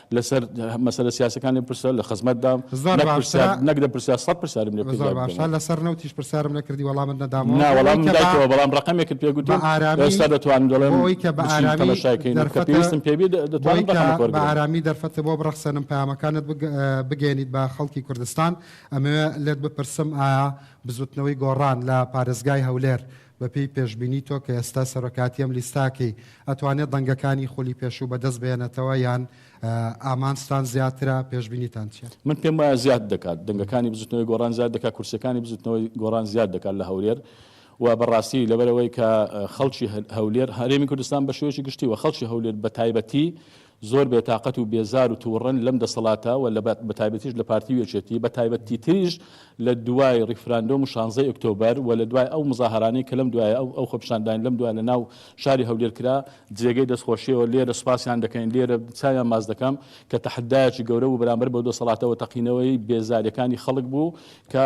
G: لەسەر مەسەلە سیاسەکان لێم پرسە لە خزمەتدام زۆر باشە نەک لە پرسیار سەد پرسیارم لێ زۆر باشە لەسەر
A: نەوتیش پرسیارم نەکردی وەڵامت نەدامەوە نا وەڵام دایتەوە بەڵام
G: ڕقمێکت پێ گوتم ئێستا دەتوانم دەڵێم ئەوەی کە بە ئارامی
A: تەماشاکەین کە پێویستم پێ
G: بێ دەتوانم ڕقمت وەرگرم بە ئارامی
A: دەرفەتە بۆ بڕەخسێنم پەیامەکانت بگەیەنیت بە خەڵکی کوردستان ئەمەوێ لێت بپرسم ئایا بزوتنەوەی گۆڕان لە پارێزگای هەولێر بەپێی پێشبینی تۆ کە ئێستا سەرۆکاتی ئەم لیستاکەی ئەتوانێت دەنگەکانی خولی پێشوو بەدەست بێنێتەوە یان ئامانجتان زیاترە پێشبینیتان چیە؟ من پێم وایە زیاد
G: دەکات دەنگەکانی بزوتنەوەی گۆڕان زیاد دەکات کورسیەکانی بزوتنەوەی گۆڕان زیاد دەکات لە هەولێر و بەڕاستی لەبەرەوەی کە خەڵکی هەولێر هەرێمی کوردستان بە شێوەیەکی گشتی و خەڵکی هەولێر بە تایبەتی زۆر بێ تاقەت و بێزار و توڕەن لەم دەسەڵاتە و لە بە تایبەتیش لە پارتی و یەکێتی بە تایبەت تیتریش لە دوای ڕیفراندۆم و شانزەی ئۆکتۆبەر و لە دوای ئەو مزاهەرانەی کە لەم دوایە ئەو ئەو خۆپیشاندانەی لەم دوایە لە ناو شاری هەولێر کرا جێگەی دەست خۆشیە و لێرە سوپاسیان دەکەین لێرە چاویان ماچ دەکەم کە تەحدایەکی گەورە بوو بەرامبەر بەو دەسەڵاتە و تەقینەوەی بێزاریەکانی خەڵک بوو کە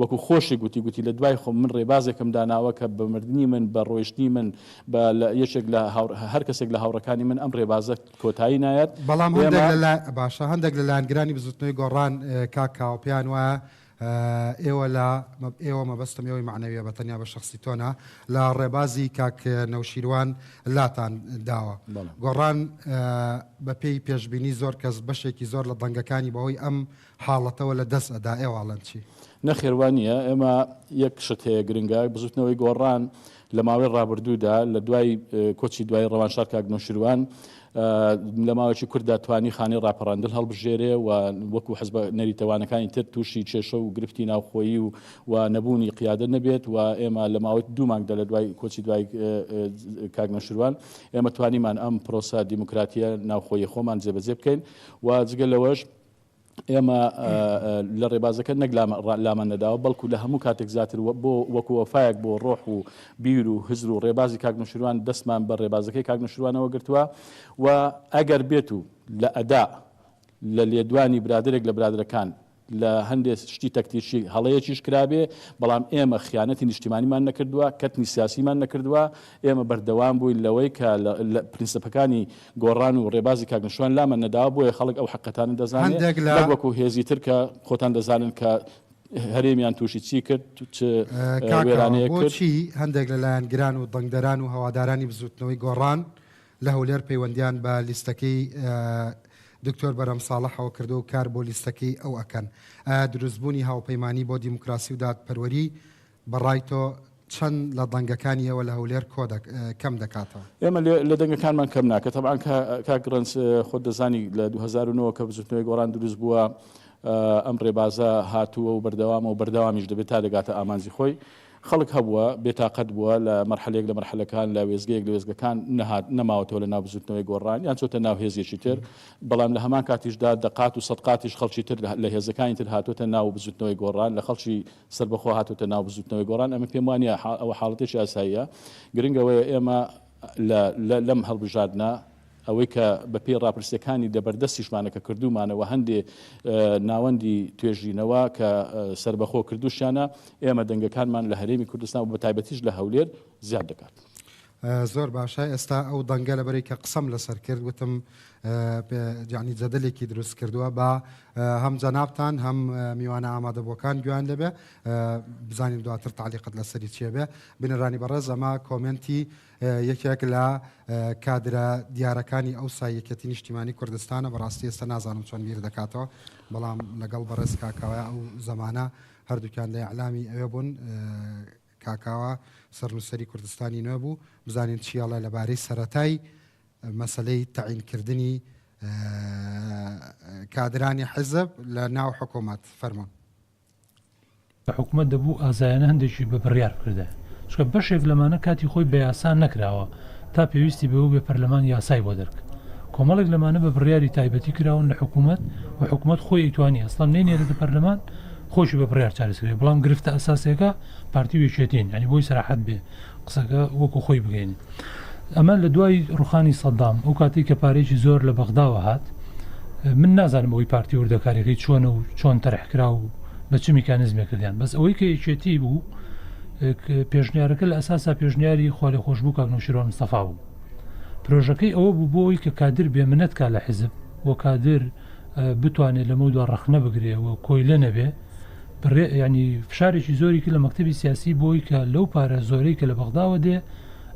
G: وەکو خۆشی گوتی گوتی لە دوای خۆم من ڕێبازێکم داناوە کە بە مردنی من بە ڕۆیشتنی من بە لە یەکێک لە هاو هەر کەسێک لە هاوڕێکانی من ئەم ڕێبازە کۆتایی نایەت بەڵام هەندێک ئێمە لە لا
A: باشە هەندێک لە لایەنگرانی بزوتنەوەی گۆڕان اه، کاک کاوە پێیان وایە اه، ئێوە لە مە ئێوە مەبەستم ئێوەی مەعنەویە بە تەنیا بە شەخسی تۆ نا لە ڕێبازی کاک اه، نەوشیروان لاتان داوە بەڵێ. گۆڕان اه، بە پێی پێشبینی زۆر کەس بەشێکی زۆر لە دەنگەکانی بە هۆی ئەم حاڵەتەوە لە دەست ئەدا ئێواڵەن چی؟ نەخێر وا نییە،
G: ئێمە یەک شت هەیە گرنگە، بزوتنەوەی گۆڕان لە ماوەی ڕابردوودا لە دوای کۆچی دوای ڕەوانشاد کاک نەوشیروان لە ماوەیەکی کورتدا توانی خانەی ڕاپەڕاندن هەڵبژێرێ و وەکو حزبە نەریتەوانەکانی تر تووشی کێشە و گرفتی ناوخۆیی و و نەبوونی قیادە نەبێت و ئێمە لە ماوەی دوو مانگدا لە دوای کۆچی دوای کاک نەوشیروان ئێمە توانیمان ئەم پرۆسە دیموکراتیە ناوخۆیی خۆمان جێبەجێ بکەین و جگە لەوەش ئێمە لە ڕێبازەکە نەک لامان نەداوە بەڵکو لە هەموو کاتێک زیاتر بۆ وەکو وەفایەک بۆ ڕۆح و بیر و هزر و ڕێبازی کاک نوشروان دەستمان بە ڕێبازەکەی کاک نوشروانەوە گرتووە و ئەگەر بێت و لە ئەدا لە لێدوانی برادێک لە برادەکان لە هەندێ شتی تەکتیشی هەڵەیەکیش کرابێ بەڵام ئێمە خیانەتی نیشتیمانیمان نەکردووە کەتنی سیاسیمان نەکردووە ئێمە بەردەوام بووین لەوەی کە پرینسپەکانی گۆڕان و ڕێبازی کاک نەشوان لامان نەداوە، بۆیە خەڵک ئەو حەقتانە دەزانێ، نەک وەکو هێزی تر کە خۆتان دەزانن کە هەرێمیان تووشی چی کرد، چ وێرانەیەک کرد. کاکە بۆچی هەندێک لە لایەنگران
A: و دەنگدەران و هەوادارانی بزووتنەوەی گۆڕان لە هەولێر پەیوەندییان بە لیستەکەی دکتۆر بەرهەم ساڵحەوە کردووە و کار بۆ لیستەکەی ئەو ئەکەن؟ ئایا دروستبوونی هاوپەیمانی بۆ دیموکراسی و دادپەروەری بە ڕای تۆ چەند لە دەنگەکانی ئێوە لە هەولێر کۆ دە کەم دەکاتەوە؟ ئێمە لە دەنگەکانمان
G: کەم ناکە تەبعان کاک ڕەنج خۆت دەزانی لە دوو هەزار و نۆ کە بزوتنەوەی گۆڕان دروست بووە ئەم ڕێبازە هاتووە و بەردەوامە و بەردەوامیش دەبێت تا دەگاتە ئامانجی خۆی خەڵک هەبووە بێتاقەت بووە لە مەرحەلەیەک لە مەرحەلەکان لە وێزگەیەک لە وێزگەکان نەهات نەماوەتەوە لە ناو بزوتنەوەی گۆڕان یان چۆتە ناو هێزێکی تر بەڵام لە هەمان کاتیشدا دەقات و سەدقاتیش خەڵکی تر لە هێزەکانی تر هاتوتە ناو بزوتنەوەی گۆڕان لە خەڵکی سەربەخۆ هاتۆتە ناو بزوتنەوەی گۆڕان، ئەمە پێم وانییە ئەوە حاڵەتێکی ئاساییە، گرنگ ئەوەیە ئێمە لە لەم هەڵبژاردنە ئەوەی کە بە پێی ڕاپرسیەکانی دەبەر دەستیشمانە کە کردومانە وە هەندێ ناوەندی توێژینەوە کە سەربەخۆ کردوشیانە ئێمە دەنگەکانمان لە هەرێمی کوردستان و بە تایبەتیش لە هەولێر زیاد دەکات. زۆر
A: باشە ئێستا ئەو دەنگە لەبەری کە قسەم لەسەر کرد وتم یعنی جەدلێکی دروست کردووە با هەم جەنابان هەم میوانە ئامادەبووەکان گویان لەبێ بزانین دواتر تعلیقت لەسەری چێبێ بنرانی بەڕێز ئەمە کۆمنتی یەکێک لە کادرە دیارەکانی ئەو سایەکەتی نیشتیمانی کوردستانە بەڕاستی ئێستا نازانم چۆن بیر دەکاتەوە بەڵام لەگەڵ بەڕێز کاکەوە ئەو زمانە هەردووکیان لە ئەعلامی ئەوێ بوون کاکاوا سەرنووسەری کوردستانی نوێ بوو بزانین چی ئەڵێ لەبارەی سەرەتای مەسەلەی تەعینکردنی کادرانی حزب لە ناو حکوومەت فەرموون.
M: کە حکومەت دەبوو ئازایانە هەندێکیش بە بڕیار بکردایە چونکە بەشێک لەمانە کاتی خۆی بە یاسا نەکراوە تا پێویستی بەوە بێ پەرلەمان یاسای بۆ دەرک کۆمەڵێک لەمانە بە بڕیاری تایبەتی کراون لە حکومەت و حکومەت خۆی ئەیتوانی ئەسڵەن نەینێرێتە پەرلەمان خۆشی بە بڕیار چارەسەرەکە بەڵام گرفتە ئەساسیەکە پارتی و یەکێتین یعنی بۆی سەراحەت بێ قسەکە وەکو خۆی بگەین ئەمە لە دوای ڕوخانی سەدام ئەو کاتی کە پارێکی زۆر لە بەغداوە هات من نازانم ئەوی پارتی وردەکاریەکەی چۆن و چۆن تەرحکرا و بە چ میکانزمێک کردیان بەس ئەوەی کە یەکێتی بوو پێشنیارەکە لە ئەساسا پێشنیاری خالی خۆشببوو کاک نوشیرۆن مستەفا بوو پرۆژەکەی ئەوە بوو بۆی کە کادر بێ منەتکە لە حزب بۆ کادر بتوانێ لەمەودوا ڕەخنە بگرێ و کۆیلە نەبێ بڕێ ینی فشارێکی زۆریکی لە مەکتتەبی سیاسی بۆی کە لەو پارە زۆرەی کە لە بەغداوە دێ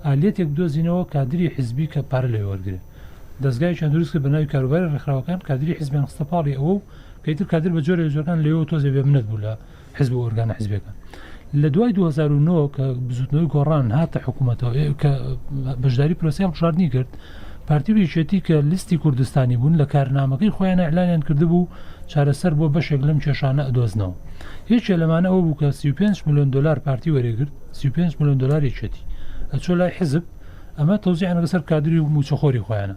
M: ئالێتێک دۆزینەوە کادری حزبی کە پارە لێ وەرگێ دەستگای چەند دروست کە بەناوی کاروباری ڕێکخراوەکان کادری حزبیان خستە پاڵی ئەوە و پێتر کادر بە جۆرە جۆران لەوە تۆزێ بێ منەت بوو لە حزب و ئۆرگانە حزبیەکان لە دوای 2009 کە بزوتنەوەی گۆڕان هاتە حکوومەتەوە کە بەشداری پرۆسی هەڵبژاردننی کرد پارتی و یەکێتی کە لیستی کوردستانی بوون لە کارنامەکەی خۆیان ئەلانیان کردبوو چارەسەر بۆ بەشێک لەم کێشانە ئەدۆزنەوە یەکێ لەمانە ئەوە بوو کە 35 میلیۆن دلار پارتی وەرێگرت 35 میلیۆن دلار یەکێتی ئەچۆ لای حزب ئەمە تۆزیان لەسەر کادری و موچەخۆری خۆیانە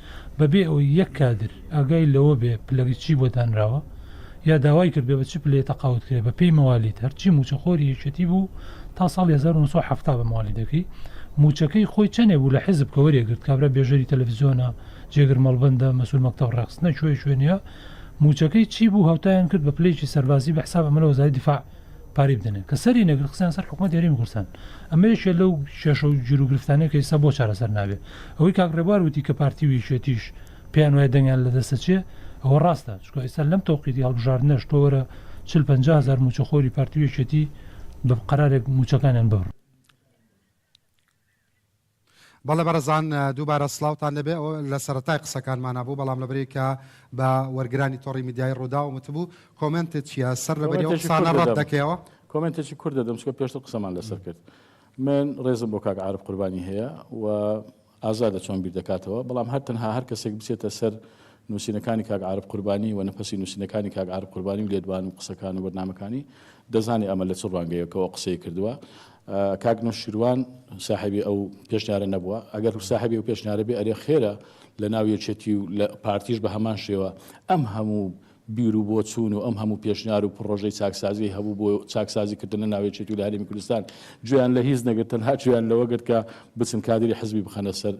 M: بەبێ ئەوەی یەک کادر ئاگای لەوە بێ پلەی چی بۆ دانراوە یا داوای کردبێ بە چ پلەیە تەقاوت کرێ بە پێی مەوالید هەرچی مووچەخۆری یەکێتی بوو تا ساڵی هەزار و نۆ سەد و حەفتا بە مەوالیدەکەی مووچەکەی خۆی چەنێ بوو لە حیزب کە وەرێگرت کابرا بێژەری تەلەفزیۆنە جێگر مەڵبەندە مەسول مەکتەب ڕەقس نەچووی شوێ نیە مووچەکەی چی بوو هاوتایان کرد بە پلەیەکی سەربازی بە حساب ئەمە لە وەزاری دیفاع پارەی بدەنێ کە سەری نەگرت خستیان سەر حکومەت هەرێمی کوردستان ئەمە یەکێ لەو کێشە و گیر و گرفتانەی کە ئێستا بۆ چارەسەر نابێ ئەوەی کاک ڕێبوار وتی کە پارتی و یەکێتیش پێیان وایە دەنگیان لە دەست ئەچێ ئەوە ڕاستە چونکە ئێستا لەم تەوقیتی هەڵبژاردنەش تۆ وەرە چل پەنجا هەزار مووچەخۆری پارتی و یەکێتی بە قەرارێک مووچەکانیان ببڕن.
A: بەڵێ بەڕێزان دووبارە سڵاوتان لەبێ ئەوە لە سەرەتای قسەکانمانە بوو بەڵام لەبری کە بە وەرگرانی تۆڕی میدیای ڕووداوم وتبوو کۆمنتت چییە سەر لەبەری ئەو قسانە ڕەت دەکەیەوە؟ کۆمنتێکی کورت
G: دەدەم چکە پێشتر قسەمان لەسەر کرد من ڕێزم بۆ کاک عارف قوربانی هەیە و ئازادە چۆن بیر دەکاتەوە، بەڵام هەر تەنها هەر کەسێک بچێتە سەر نووسینەکانی کاک عارف قوربانی و نەفەسی نووسینەکانی کاک عارف قوربانی و لێدوان و قسەکان و بەرنامەکانی دەزانێ ئەمە لە چ ڕوانگەیەکەوە ئەو قسەی کردووە. کاک نەوشیروان ساحێبی ئەو پێشنیارە نەبووە، ئەگەر ساحێبی ئەو پێشنیارە بێ ئەرێ خێرە لە ناو یەکێتی و لە پارتیش بە هەمان شێوە ئەم هەموو بیر و بۆچوون و ئەم هەموو پێشنیار و پڕۆژەی چاکسازیی هەبوو بۆ چاکسازیکردن لە ناو یەکێتی و لە هەرێمی کوردستان، گوێیان لە هیچ نەگرت، تەنها گوێیان لەوە گرت کە بچن کادری حزبی بخەنە سەر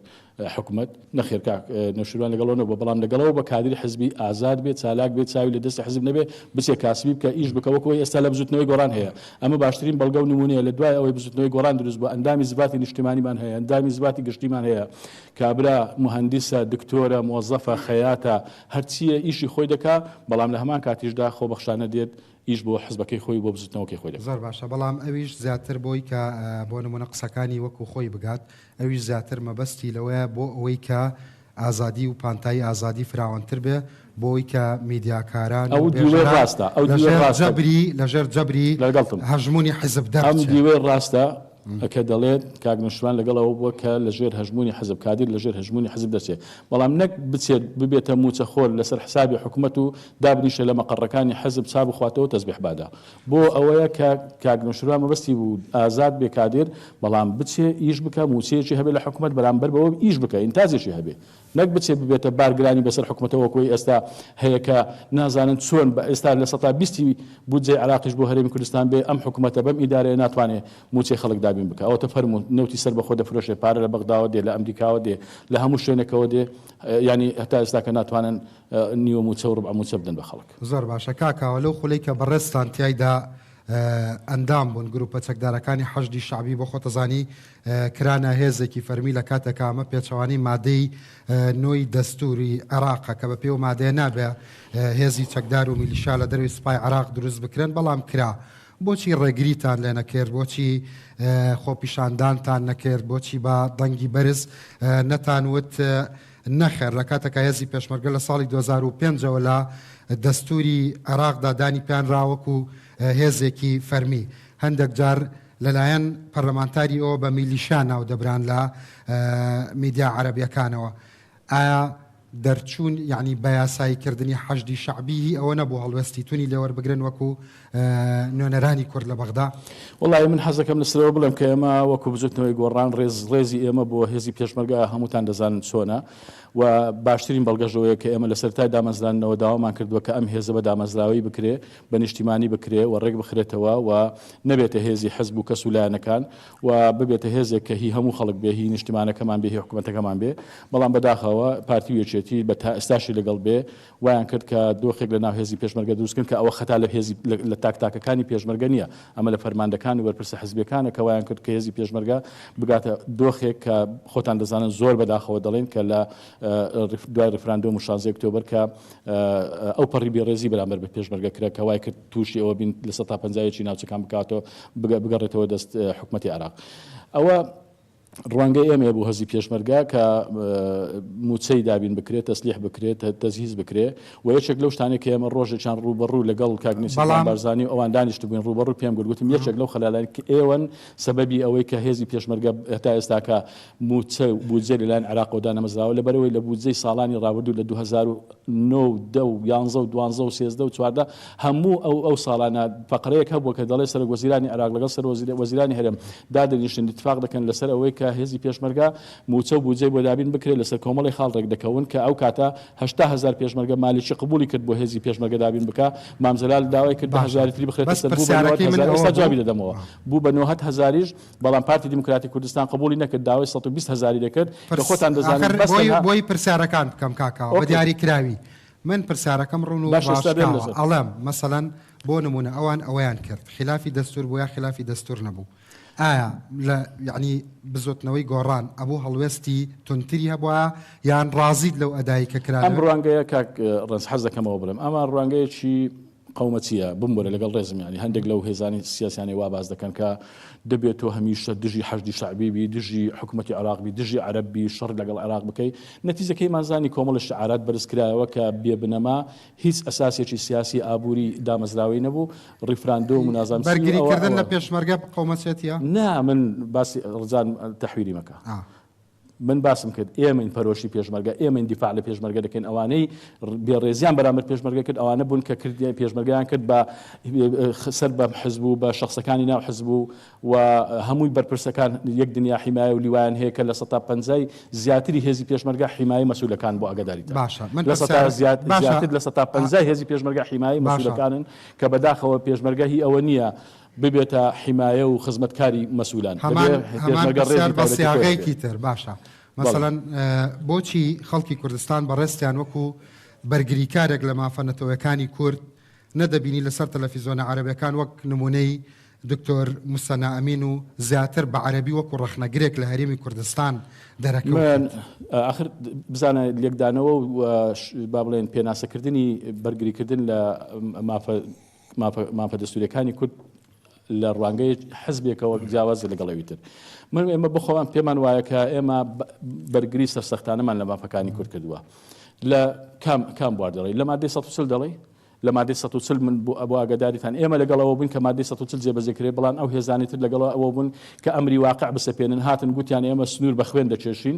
G: حکومەت. نەخێر کاک نەوشیروان لەگەڵ ئەوە نەبووە، بەڵام لەگەڵ ئەوە بووە کادری حزبی ئازاد بێت، چالاک بێت، چاوی لە دەستی حزب نەبێت، بچێت کاسبی بکات، ئیش بکات، وەکو ئەوەی ئێستا لە بزووتنەوەی گۆڕان هەیە. ئەمە باشترین بەڵگە و نموونەیە، لە دوای ئەوەی بزووتنەوەی گۆڕان دروست بووە، ئەندامی زڤاتی نیشتیمانیمان هەیە، ئەندامی زڤاتی گشتیمان هەیە، کابرا موهەندیسە، دکتۆرە، موەزەفە، خەیاتە، هەرچییە ئیشی خۆی دەکا، بەڵام لە هەمان کاتیشدا خۆبەخشانە دێت ئیش بۆ حزبەکەی خۆی و بۆ بزوتنەوەکەی خۆی دەکا. زۆر باشە بەڵام ئەویش
A: زیاتر بۆی کە بۆ نمونە قسەکانی وەکو خۆی بگات ئەویش زیاتر مەبەستی لەوەیە بۆ ئەوەی کە ئازادی و پانتایی ئازادی فراوانتر بێ بۆ ئەوەی کە میدیاکاران و بێژەران لە ژێر جەبری لە ژێر جەبری هەژمونی حزب دەربچێ. ئەو دیوەی ڕاستە،
G: ئەو دیوەی ڕاستە ە کە دەڵێت کاک نەوشیروان لەگەڵ ئەوە بووە کە لە ژێر هەژموونی حزب کادیر لە ژێر هەژموونی حزب دەچێت بەڵام نەک بچێت ببێتە مووچە خۆر لە سەر حسابی حکومەت و دابنیشێت لە مەقەڕەکانی حزب چا بخواتەوە تەزبیح بادا بۆ ئەوەیە کە کاک نەوشیروان مەبەستی بوو ئازاد بێ کادیر بەڵام بچێ ئیش بکا مووچەیەکی هەبێت لە حکومەت بەرامبەر بەوە ئیش بکا ئینتاجێکی هەبێت نەک بچێت ببێتە بارگرانی بەسەر حکومەتە وەکوەی ئێستا هەیە کە نازانن چۆن بە ئێستا لە سەتا بیستی بودجەی عێراقیش بۆ هەرێمی کوردستان بێ ئەم حکومەتە بەم ئیدارەیە ناتوانێ موچەی خەڵک دابین بکا ئەوەتە فەرموون نەوتی سەربەخۆ دەفرۆشێ پارە لە بەغداوە دێ لە ئەمریکاوە دێ لە هەموو شوێنێکەوە دێ یانی هەتا ئێستا کە ناتوانن نیوە موچە و ربع موچە بدەن بە خەڵک. زۆر باشە کاک کاوە
A: لەو خولەی کە بەڕێزتان تیایدا ئەندام بوون گروپە چەکدارەکانی حەشدی شەعبی بۆ خۆتەزانی کرانە هێزێکی فەرمی لە کاتێکا ئەمە پێچەوانەی مادەی نۆی دەستووری عێراقە کە بە پێی و مادەیە نابێ هێزی چەکدار و میلیشا لە دەروی سپای عراق دروست بکرێن بەڵام کرا بۆچی ڕێگریتان لێ نەکرد بۆچی خۆپیشاندانتان نەکرد بۆچی بە دەنگی بەرز نەتان وت نەخێر لە کاتەکە هێزی پێشمەرگە لە ساڵی 2005ەوە لە دەستوری عێراقدا دانی پێیان راوەکو هێزێکی فەرمی هەندێک جار لەلایەن پەرلەمانتاری ەوە بە میلیشا ناو دەبران لە میدیا عەرەبیەکانەوە ئایا دەرچوون یعنی بەیاسایی کردنی حەشدی شەعبی هی ئەوە نەبوو هەڵوێستی تونی لێوەربگرن وەکو نوێنەرانی کورد لە بەغدا؟ وەڵایی من حەزەکەم
G: لەسەرەوە بڵێم کە ئێمە وەکو بزوتنەوەی گۆڕان ڕێز ڕێزی ئێمە بۆ هێزی پێشمەرگە هەمووتان دەزانن چۆنە و باشترین بەڵگەشەوەیە کە ئێمە لە سەرتای دامەزراندنەوە داوامان کردووە کە ئەم هێزە بە دامەزراوەی بکرێ بە نیشتیمانی بکرێ و ڕێک بخرێتەوە و نەبێتە هێزی حزب و کەس و لایەنەکان و ببێتە هێزێک کە هی هەموو خەڵک بێ، هی نیشتیمانەکەمان بێ، هی حکومەتەکەمان بێ. بەڵام بەداخەوە پارتی و یەکێتی بە تا ئێستاشی لەگەڵ بێ وایان کرد کە دۆخێک لە ناو هێزی پێشمەرگە دروست بکەن کە ئەوە خەتا لە هێزی لە تاک تاکەکانی پێشمەرگە نییە ئەمە لە فەرماندەکان و بەرپرسە حزبیەکانە کە وایان کرد کە هێزی پێشمەرگە بگاتە دۆخێک کە خۆتان دەزانن زۆر بەداخەوە دەڵێین کە لە دوای ڕیفراندۆم و شازدە ئۆکتۆبەر کە ئەوپەڕی بێڕێزی بەرامبەر بە پێشمەرگە کرا کە وای کرد تووشی ئەوە بین لە سەتا پەنجا یەکی ناوچەکان بکاتەوە بگەڕێتەوە دەست حکومەتی عێراق ئەوە ڕوانگەی ئێمەیە بۆ هەزی پێشمەرگە کە موچەی دابین بکرێت تەسلیح بکرێت تەزهیز بکرێ و یەکێک لەو شتانێک کە ئێمە ڕۆژێکیان ڕوبەڕوو لەگەڵ کاگنیسیان بارزانانی و ئەوان دانیشت بووین ڕوبەڕوو پێم گوتم یەکێک لەو خەلالانی کە ئێوەن سەبەبی ئەوەی کە هێزی پێشمەرگە هەتا ئێستاکە مووچە و بودجە لەلایەن عێراقەوە دانەمەزراوە، لەبەرئەوەی لە بودجەی ساڵانی ڕابردوو لە دوو هەزار و نۆ و دە و یانزە و دوانزە و سێزدە و چواردە هەموو ئەو ئەو ساڵانە فەقرەیەک هەبووە کە دەڵێت سەرۆکوەزیرانی عێراق لەگەڵ سەرۆک وەزیرانی هەرێم دادەنیشن ئیتفاق دەکەن لەسەر ئەوەی کە هێزی پێشمەرگە مووچە و بودجەی بۆ دابین بکرێت لەسەر کۆمەڵی خاڵ ڕێکدەکەون کە ئەو کاتە هەشتا هەزار پێشمەرگە مالیکی قبوڵی کرد بۆ هێزی پێشمەرگە دابین بکا مام جەلال داوای کرد دە باشە هەزاری تری بخرێتە بەس سەر بوو بە نۆهەد پرسیارەکەی من هەزار ئەوە ئێستا بوو جوابی دەدەمەوە آه. بوو بە نۆهەد هەزاریش بەڵام پارتی دیموکراتی کوردستان قبوڵی نەکرد داوای سەد و بیست هەزاری دەکرد کە پرس خۆتان دەزانن ئاخر بەس بۆی تەنها بۆی پرسیارەکان
A: بکەم کاکە ئاوا بە ئۆکەی دیاری کراوی من پرسیارەکەم ڕوون و باشە ستا بێم ڕاشکاوە لەسەر ئەڵێم مەسەلەن بۆ نموونە ئەوان ئەوەیان کرد خیلافی دەستوور بوو یا خیلافی دەستوور نەبوو ئایا لە یەعنی بزۆتنەوەی گۆڕان ئەبوو هەڵوێستی توندتری هەبوایە یان ڕازیت لەو ئەدایی کە کرا ئەم لەوێ؟ ڕوانگەیە کاک
G: ڕەنج حەز دەکەم ئەوە بڵێم ئەمە ڕوانگەیەکی قەومە چیە؟ بمبورە لەگەڵ ڕێزم یانی هەندێک لەو هێزانی سیاسیانەی وا باس دەکەن کە دەبێ تۆ هەمیشە دژی حەشدی شەعبی بی دژی حکومەتی عێراق بی دژی عەرەب بی شەڕ لەگەڵ عێراق بکەی نەتیجەکەیمان زانی کۆمەڵە شیعارات بەرز کرایەوە کە بێ بنەما هیچ ئەساسێکی سیاسی ئابووری دامەزراوەی نەبوو ڕیفراندۆم و نازانم چی و بەرگری ئەوە کردن ئەوە. لە پێشمەرگە
A: قەومەچێتیە؟ نا من
G: باسی ڕزان تەحویلی مەکە. من باسم کرد ئێمەین پەرۆشی پێشمەرگە ئێمەین دیفاع لە پێشمەرگە دەکەین ئەوانەی بێ ڕێزیان بەرامبەر پێشمەرگە کرد ئەوانە بوون کە کرد پێشمەرگیان کرد بە سەر بە حزب و بە شخصەکانی ناو حزب و و هەمووی بەرپرسەکان یەک دنیا حیمایە و لیوایان هەیە کە لە سەتا پەنجای زیاتری هێزی پێشمەرگە حیمایە مەسولەکان بۆ ئەگەداری باشە من لە سەتا زیات باشە لە سەتا پەنجای هێزی پێشمەرگە حیمایە مەسولەکانن کە بەداخەوە پێشمەرگە هی ئەوە نییە ببێتە حیمایە و خزمەتکاری مەسولان. هەمان هەمان پرسیار بە سیاغەیەکی
A: تر باشە مەسەلەن بۆچی خەڵکی کوردستان بە ڕێزتیان وەکو بەرگریکارێک لە مافە نەتەوەکانی کورد نەدەبینی لەسەر تەلەفیزۆنە عەرەبەکان وەک نمونەی دکتۆر موسەنا ئەمین و زیاتر بە عەرەبی وەکو ڕەخنەگرێک لە هەرێمی کوردستان دەرەکەوت ئاخر
G: بزانە لێکدانەوە و با بڵێن پێناسەکردنی بەرگریکردن لە مافە مافە مافە دەستوریەکانی کورد لە ڕوانگەی حزبێکەوە جیاوازە لەگەڵ ئەوی تر من ئێمە بخۆوان پێمان وایە کە ئێمە بەرگری سەرسەختانەمان لە مافەکانی کورد کردووە لە کام کام بوار دەڵی لە مادەی 140 دەڵی لە مادەی 140 من بۆ ئەبوو ئاگاداریتان ئێمە لەگەڵەوە بوون کە مادەی 140 جێبەجێکرێ بەڵام ئەو هێزانی تر لەگەڵەوە ئەوە بوون کە ئەمری واقع بسەپێنن هاتن گوتیان ئێمە سنوور بە خوێن دەکێشین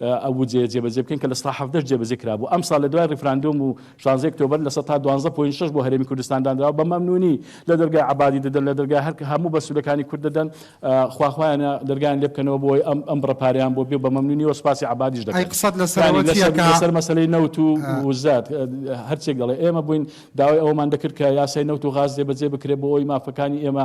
G: ئەو بودجەیە جێبەجێ بکەین کە لە سەتا حەڤدەش جێبەجێ کرابوو ئەمساڵ لە دوای ڕیفراندۆم و شانزەی ئۆکتۆبەر لە سەتا دوانزە پۆینت شەش بۆ هەرێمی کوردستان دانراوە بە مەمنوونی لە دەرگای عەبادی دەدەن لە دەرگای هەر هەموو بەسوودەکانی کورد دەدەن خوا خوایانە دەرگایان لێ بکەنەوە بۆ ئەوەی ئەم ئەم بڕە پارەیان بۆ بێ و بە مەمنوونیەوە سوپاسی عەبادیش ئەی دەکەن قسەت یانی لەسەرەوە لەسەر چییە کە لەسەر مەسەلەی نەوت و ئا. وزەت ئە، هەرچێک دەڵێ ئێمە بووین داوای ئەوەمان دەکرد کە یاسای نەوت و غاز جێبەجێ بکرێ بۆ ئەوەی مافەکانی ئێمە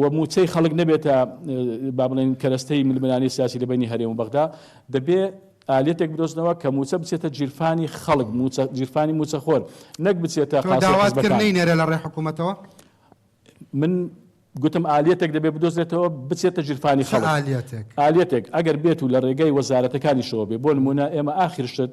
G: و موچەی خەڵک نەبێتە با بڵێین کەرەستەی ململانێی سیاسی لە بەینی هەرێم و بەغدا، دەبێ ئالیەتێک بدۆزنەوە کە موچە بچێتە گیرفانی خەڵک، موچە گیرفانی موچەخۆر، نەک بچێتە قاسەی حزبەکان. تۆ داوات کرد نەینێرێ
A: لە ڕێی حکوومەتەوە؟
G: من گوتم ئالیەتێک دەبێ بدۆزرێتەوە بچێتە گیرفانی خەڵک. چ ئالیەتێک؟ ئالیەتێک ئەگەر بێت و لە ڕێگەی وەزارەتەکانیشەوە بێ، بۆ نموونە ئێمە ئاخر شت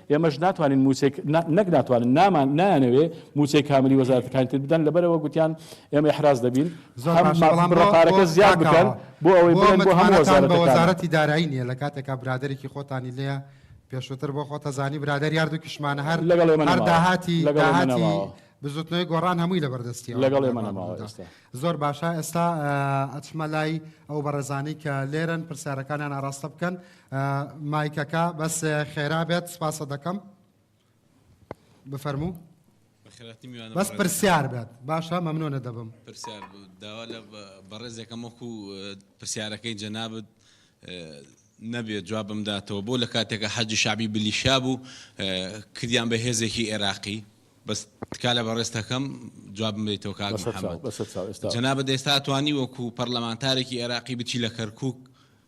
G: ئێمەش ناتوانین مووچەی، نەک ناتوانن، نامان، نایانەوێ مووچەی کاملی وەزارەتەکانی تر بدەن، لەبەرئەوە گوتیان ئێمە ئیحراز دەبین، هەم مافی بڕە پارەکە زیاد بکەن، بۆ ئەوەی بڵێن بۆ هەموو وەزارەتەکان. زۆر متمانەتان بە وەزارەتی دارایی
A: نییە، لە کاتێکا برادەرێکی خۆتانی لێیە، پێشووتر بۆ خۆت ئەزانی برادەری هەر دوو کیشمانە، هەر هەر داهاتی، داهاتی بزووتنەوەی گۆڕان هەمووی لە بەردەستییەوە، لەگەڵ ئێمە نەماوە
G: ئێستا. زۆر
A: باشە، ئێستا ئەچمە لای ئەو بەڕێزانەی کە لێرەن پرسیارەکانیان ئاراستە بکەن، مایکەکە بەس خێرا بێت سپاسە دەکەم بفەرموو بەخێراتی میوانە بەس پرسیار بێت باشە مەمنۆنە دەبم پرسیار داوا
N: لە بەڕێزێکەم وەکو پرسیارەکەی جەنابت نەبێت جواب بمداتەوە بۆ لە کاتێکە حەجی شعبی بلیشا بوو کردیان بە هێزێکی عێراقی بەس تکا لە بەڕێستەکەم جواب بێتەوە کاک جەنابەت ئێستا توانی وەکو پەرلەمانتارێکی عێراقی بچی لە کەرکک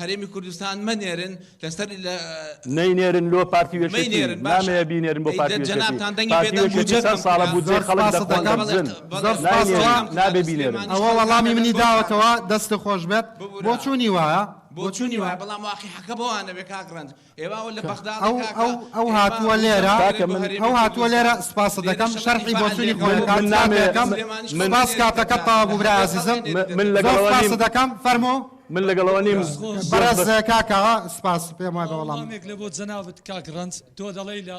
N: هەرێمی کوردستان مەنێرن لەسەر لە. نەینێرن
G: لۆ پارتی وێکێتی نامەیە بینێرن بۆ پارتی وێکێتی پارتی وێکێتی
N: چەند ساڵە بودجەی
G: خەڵک دەقۆندە بزن ناینێرن نابێ بینێرن ئەوە وەڵامی منی
A: داوەتەوە دەستت خۆش بێت بۆچوونی وایە بۆچوونی وایە بەڵام
N: واقیعەکە بەوانەوێ کاک ڕەنج ئەو هاتووە
A: لێرە ئەو هاتووە لێرە سوپاست دەکەم شەرحی بۆچوونی خۆی بکات من نامەوێ سوپاس کاتەکەت تەواو بوو برای ئازیزم من لەگەڵ ئەوە نیم
G: سوپاست دەکەم فەرموو
A: من لەگەڵ ئەوە نیم
G: بەڕێز
A: کاکە سوپاس پێم وایە بە وەڵام وەڵامێک لە بۆ جەنابت
O: کاک ڕەنج تۆ دەڵێی لە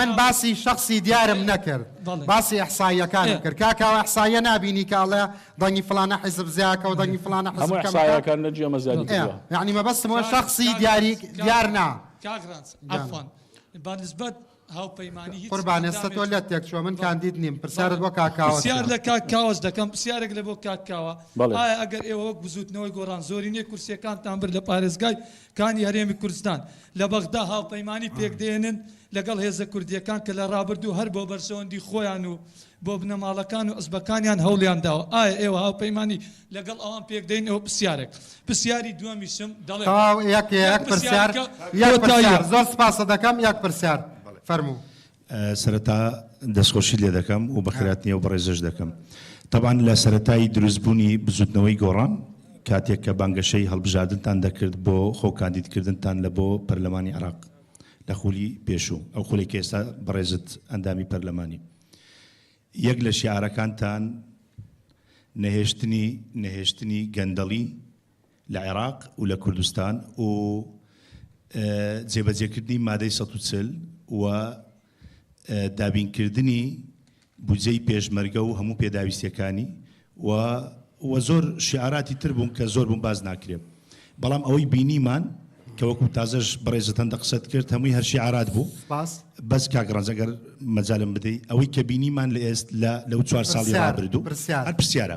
A: من باسی شەخسی دیارم نەکرد باسی ئیحساییەکانم کرد کاکە ئەو ئیحساییە نابینی کە ئەڵێ دەنگی فڵانە حیزب زیاکە و دەنگی فڵانە حیزب کەمەکە یانی مەبەستم ئەوە شەخسی دیاری دیار نا
O: قوربان ئێستا تۆ
A: لەت تێک چووە من کاندید نیم پرسیارت بۆ کاک کاوەس پرسیار لە کاک کاوەس
O: دەکەم پرسیارێک لە بۆ کاک کاوە ئایا ئەگەر ئێوە وەک بزووتنەوەی گۆڕان زۆرینەی کورسییەکانتان برد لە پارێزگای کانی هەرێمی کوردستان لە بەغدا هاوپەیمانی پێکدێنن لەگەڵ هێزە کوردییەکان کە لە ڕابردوو هەر بۆ بەرژەوەندی خۆیان و بۆ بنەماڵەکان و عزبەکانیان هەوڵیان داوە ئایا ئێوە هاوپەیمانی لەگەڵ ئەوان پێکدێن ئەوە پرسیارێک پرسیاری دووەمیشم دەڵێ تەواو یەک یەک
A: پرسیار یەک پرسیار زۆر سپاست دەکەم یەک پرسیار فەرموو.
P: سەرەتا دەستخۆشیت
A: لێ
P: دەکەم و بەخێرات نێو بەڕێزش دەکەم تەبان لە سەتای دروست بوونی بزوتنەوەی گۆڕان کاتێک کە بانگەشەی هەڵبژاردنتان دەکرد بۆ خۆ کاندیدکردنتان لە بۆ پەرلەمانی عراق لە خولی پێشوو ئەو خولی کە ئێستا بەڕێزت ئەندامی پەرلەمانی یەک لە شیعرەکانتان نەهێشتنی نەهێشتنی گەندەڵی لە عێراق و لە کوردستان و جێبەجێکردنی مادەی سەد و چل و دابینکردنی بودجەی پێشمەرگە و هەموو پێداویستیەکانی و و زۆر شیعاراتی تر بوون کە زۆر بوون باز ناکرێ بەڵام ئەوەی بینیمان کە وەکو تازەش بەڕێزت هەندە قسەت کرد هەمووی هەر شیعارات بوو سپاس بەس کاک ڕەنج ئەگەر مەجالم بدەی ئەوەی کە بینیمان لە ئێست لە لەو چوار ساڵی پرسیار، رابردوو پرسیار. هەر پرسیارە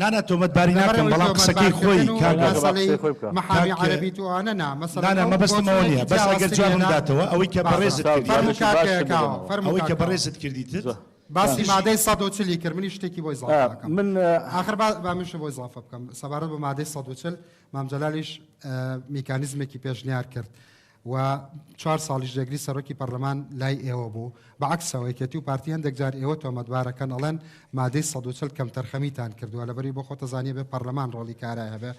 A: نانا تۆمەتباری
P: ناکەم بەڵام قسەکەی خۆی
A: کاکە نانا مەبەستم
P: ئەوە نیە بەس ئەگەر جوابم داتەوە ئەوەی کە بەڕێزت ئەوەی کە بەڕێزت کردیتت باسی مادەی
A: 140 کرد منی شتێکی بۆی زڵ من آخر با منش بۆی زڵافە بکەم سەبارەت بە مادەی 140 مامجلالیش میکانیزمێکی پێشنیار کرد و چوار ساڵیش جێگری سەرۆکی پەرلەمان لای ئێوە بوو، بە عەکسەوە یەکێتی و پارتی هەندێک جار ئێوە تۆمەتبار ئەکەن ئەڵێن مادەی سەد و چل کەمتەرخەمیتان کردووە لەبەروی بۆ خۆت ئەزانی ئەبێ پەرلەمان ڕۆڵی کارای هەبێ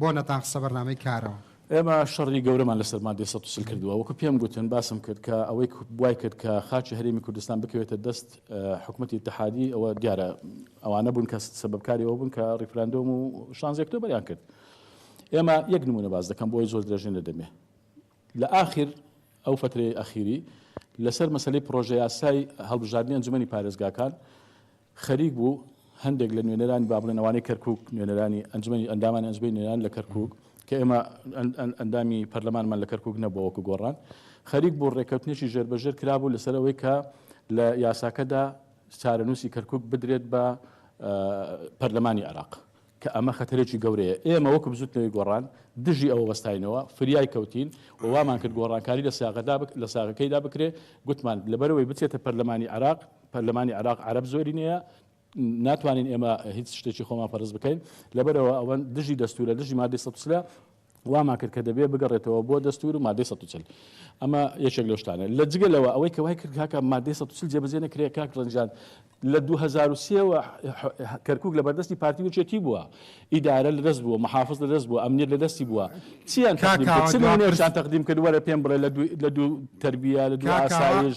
A: بۆ نەتان خستە بەرنامەی کارەوە؟ ئێمە شەڕی
G: گەورەمان لەسەر مادەی سەد و چل کردووە وەکو پێم گوتن باسم کرد کە ئەوەی وای کرد کە خاکی هەرێمی کوردستان بکەوێتە دەست حکومەتی ئیتحادی ئەوە دیارە ئەوانە بوون کە سەبەبکاری ئەوە بوون کە ڕیفراندۆم و شانزی ئۆکتۆبەریان کرد ئێمە یەک نموونە باس دەکەم بۆی زۆر درێژە نەدەمێ لە ئاخر ئەو فترەی ئەخیری لەسەر مەسلەی پرۆژە یاسای هەڵبژاردنی ئەنجومەنی پارێزگاکان خەریک بوو هەندێک لە نوێنەرانی بابلێنەوانی کەرکک نوێنەرانی ئەنجومی ئەندامان ئەنجبی نوێنان لە کەرکک کە ئێمە ئەندامی پەرلەمانمان لە کەرکک نەبووەکو گۆڕان خەریک بوو ڕێککەوتنێکی ژێربەژێر کرابوو لەسەرەوەی کە لە یاساکەدا چارەنووسی کەرکک بدرێت بە پەرلەمانی عراق کە ئەمە خەتەرێکی گەورەیە. ئێمە وەکو بزوتنەوەی گۆڕان دژی ئەوە وەستاینەوە، فریای کەوتین و وامان کرد گۆڕانکاری لە سیاغەدا بک لە ساغەکەیدا بکرێ. گوتمان لەبەرئەوەی بچێتە پەرلەمانی عێراق، پەرلەمانی عێراق عەرەب زۆرینەیە، ناتوانین ئێمە هیچ شتێکی خۆمان فەرز بکەین، لەبەرئەوە ئەوەن دژی دەستورە، دژی مادەی سەد و سلە. وامان کرد کە دەبێ بگەڕێتەوە بۆ دەستوور و مادەی سەد و چل. ئەمە یەکێک لەو شتانە. لە جگە لەوە ئەوەی کە وای کرد کاکە مادەی سەد و چل جێبەجێ نەکرێ کاک ڕەنجان لە دوو هەزار و سێ وە کەرکووک لەبەردەستی پارتی و یەکێتی بووە، ئیدارە لە دەست بووە، محافز لە دەست بووە، ئەمنیەت لە دەستی بووە، چییان تەقدیم کرد؟ چ نموونەیەکیان تەقدیم کرد وەرە پێم بڵێ لە دوو تەربییە، لە دوو ئاسایش،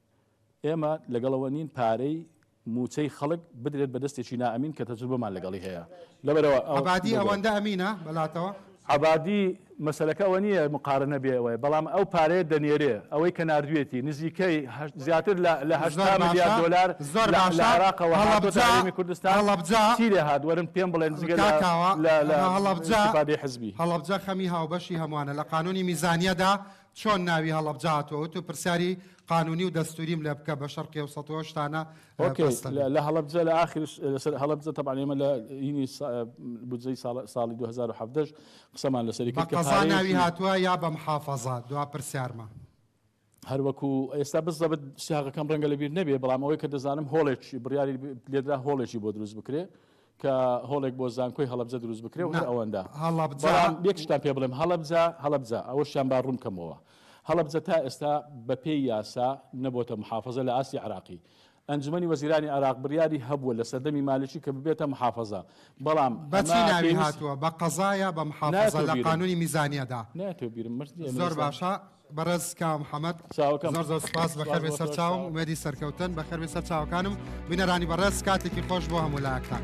G: ئێمە لەگەڵەوە نین پارەی موچەی خەڵک بدرێت بە دەستێکی نا ئەمین کە تەجروبەمان لەگەڵی هەیە لەبەرئەوە ئەو عەبادی ئەوەندە
A: ئەمینە بەلاتەوە؟ عەبادی
G: مەسەلەکە ئەوە نییە مقارنە بێ ئەوەیە بەڵام ئەو پارەیە دەنێرێ ئەوەی کە ناردوێتی نزیکەی هەشت زیاتر لە لە هەشتا ملیار دۆلار زۆر باشە لە عێراقەوە هەڵەبجە هاتۆتە هەرێمی کوردستان هەڵەبجە چی لێ هات وەرن پێم بڵێن جگە لە کاکەوە لە لە ئەمە هەڵەبجە ئیستیفادەی حزبی هەڵەبجە خەمی هاوبەشی
A: هەموانە لە قانونی میزانیەدا چۆن ناوی هەڵەبجە هاتووە وتو پرسیاری قانونی و دەستوریم لێ بکە بە شەرقی ئەوسەت و ئەو شتانە اوکی بەستە بێ. لە
G: هەڵەبجە لە ئاخر لەسەر هەڵەبجە تەبعەن ئێمە لە ینی سا بودجەی ساڵ ساڵی دوو هەزار و حەڤدە ش قسەمان لەسەری بە کرد کە قەزا ناوی پارەیەکی هاتووە
A: یا بە محافەزە دوا پرسیارمە. هەر
G: وەکو ئێستا بزەبت سیاغەکەم ڕەنگە لە بیر نەبێ بەڵام ئەوەی کە دەزانم هۆڵێکی بڕیاری لێدرا هۆڵێکی بۆ دروست بکرێ کە هۆڵێک بۆ زانکۆی هەڵەبجە دروست بکرێ و هەر ئەوەندە. بەڵام یەک شتان پێ بڵێم، هەڵەبجە، هەڵەبجە، ئەوەشیان با ڕوون بکەمەوە، هەڵەبجە تا ئێستا بە پێی یاسا نەبۆتە محافەزە لە ئاستی عێراقی. ئەنجومەنی وەزیرانی عێراق بڕیاری هەبووە لە سەردەمی مالکی کە ببێتە محافەزە، بەڵام ئەمە پێویست. بە چی ناوی
A: هاتووە، بە قەزا یا بە محافەزە لە قانوونی میزانیەدا؟ نایەتەوە بیرم. زۆر باشە. بەڕێز کاوە محەمەد چاوەکەم زۆر زۆر سوپاس سوپاس بەخێربێ بۆ سەر تۆش چاوم چاوەکەم. ئومێدی سەرکەوتن بەخێربێ سەر چاوەکانم بینەرانی بەڕێز کاتێکی خۆش بۆ هەموو لایەکتان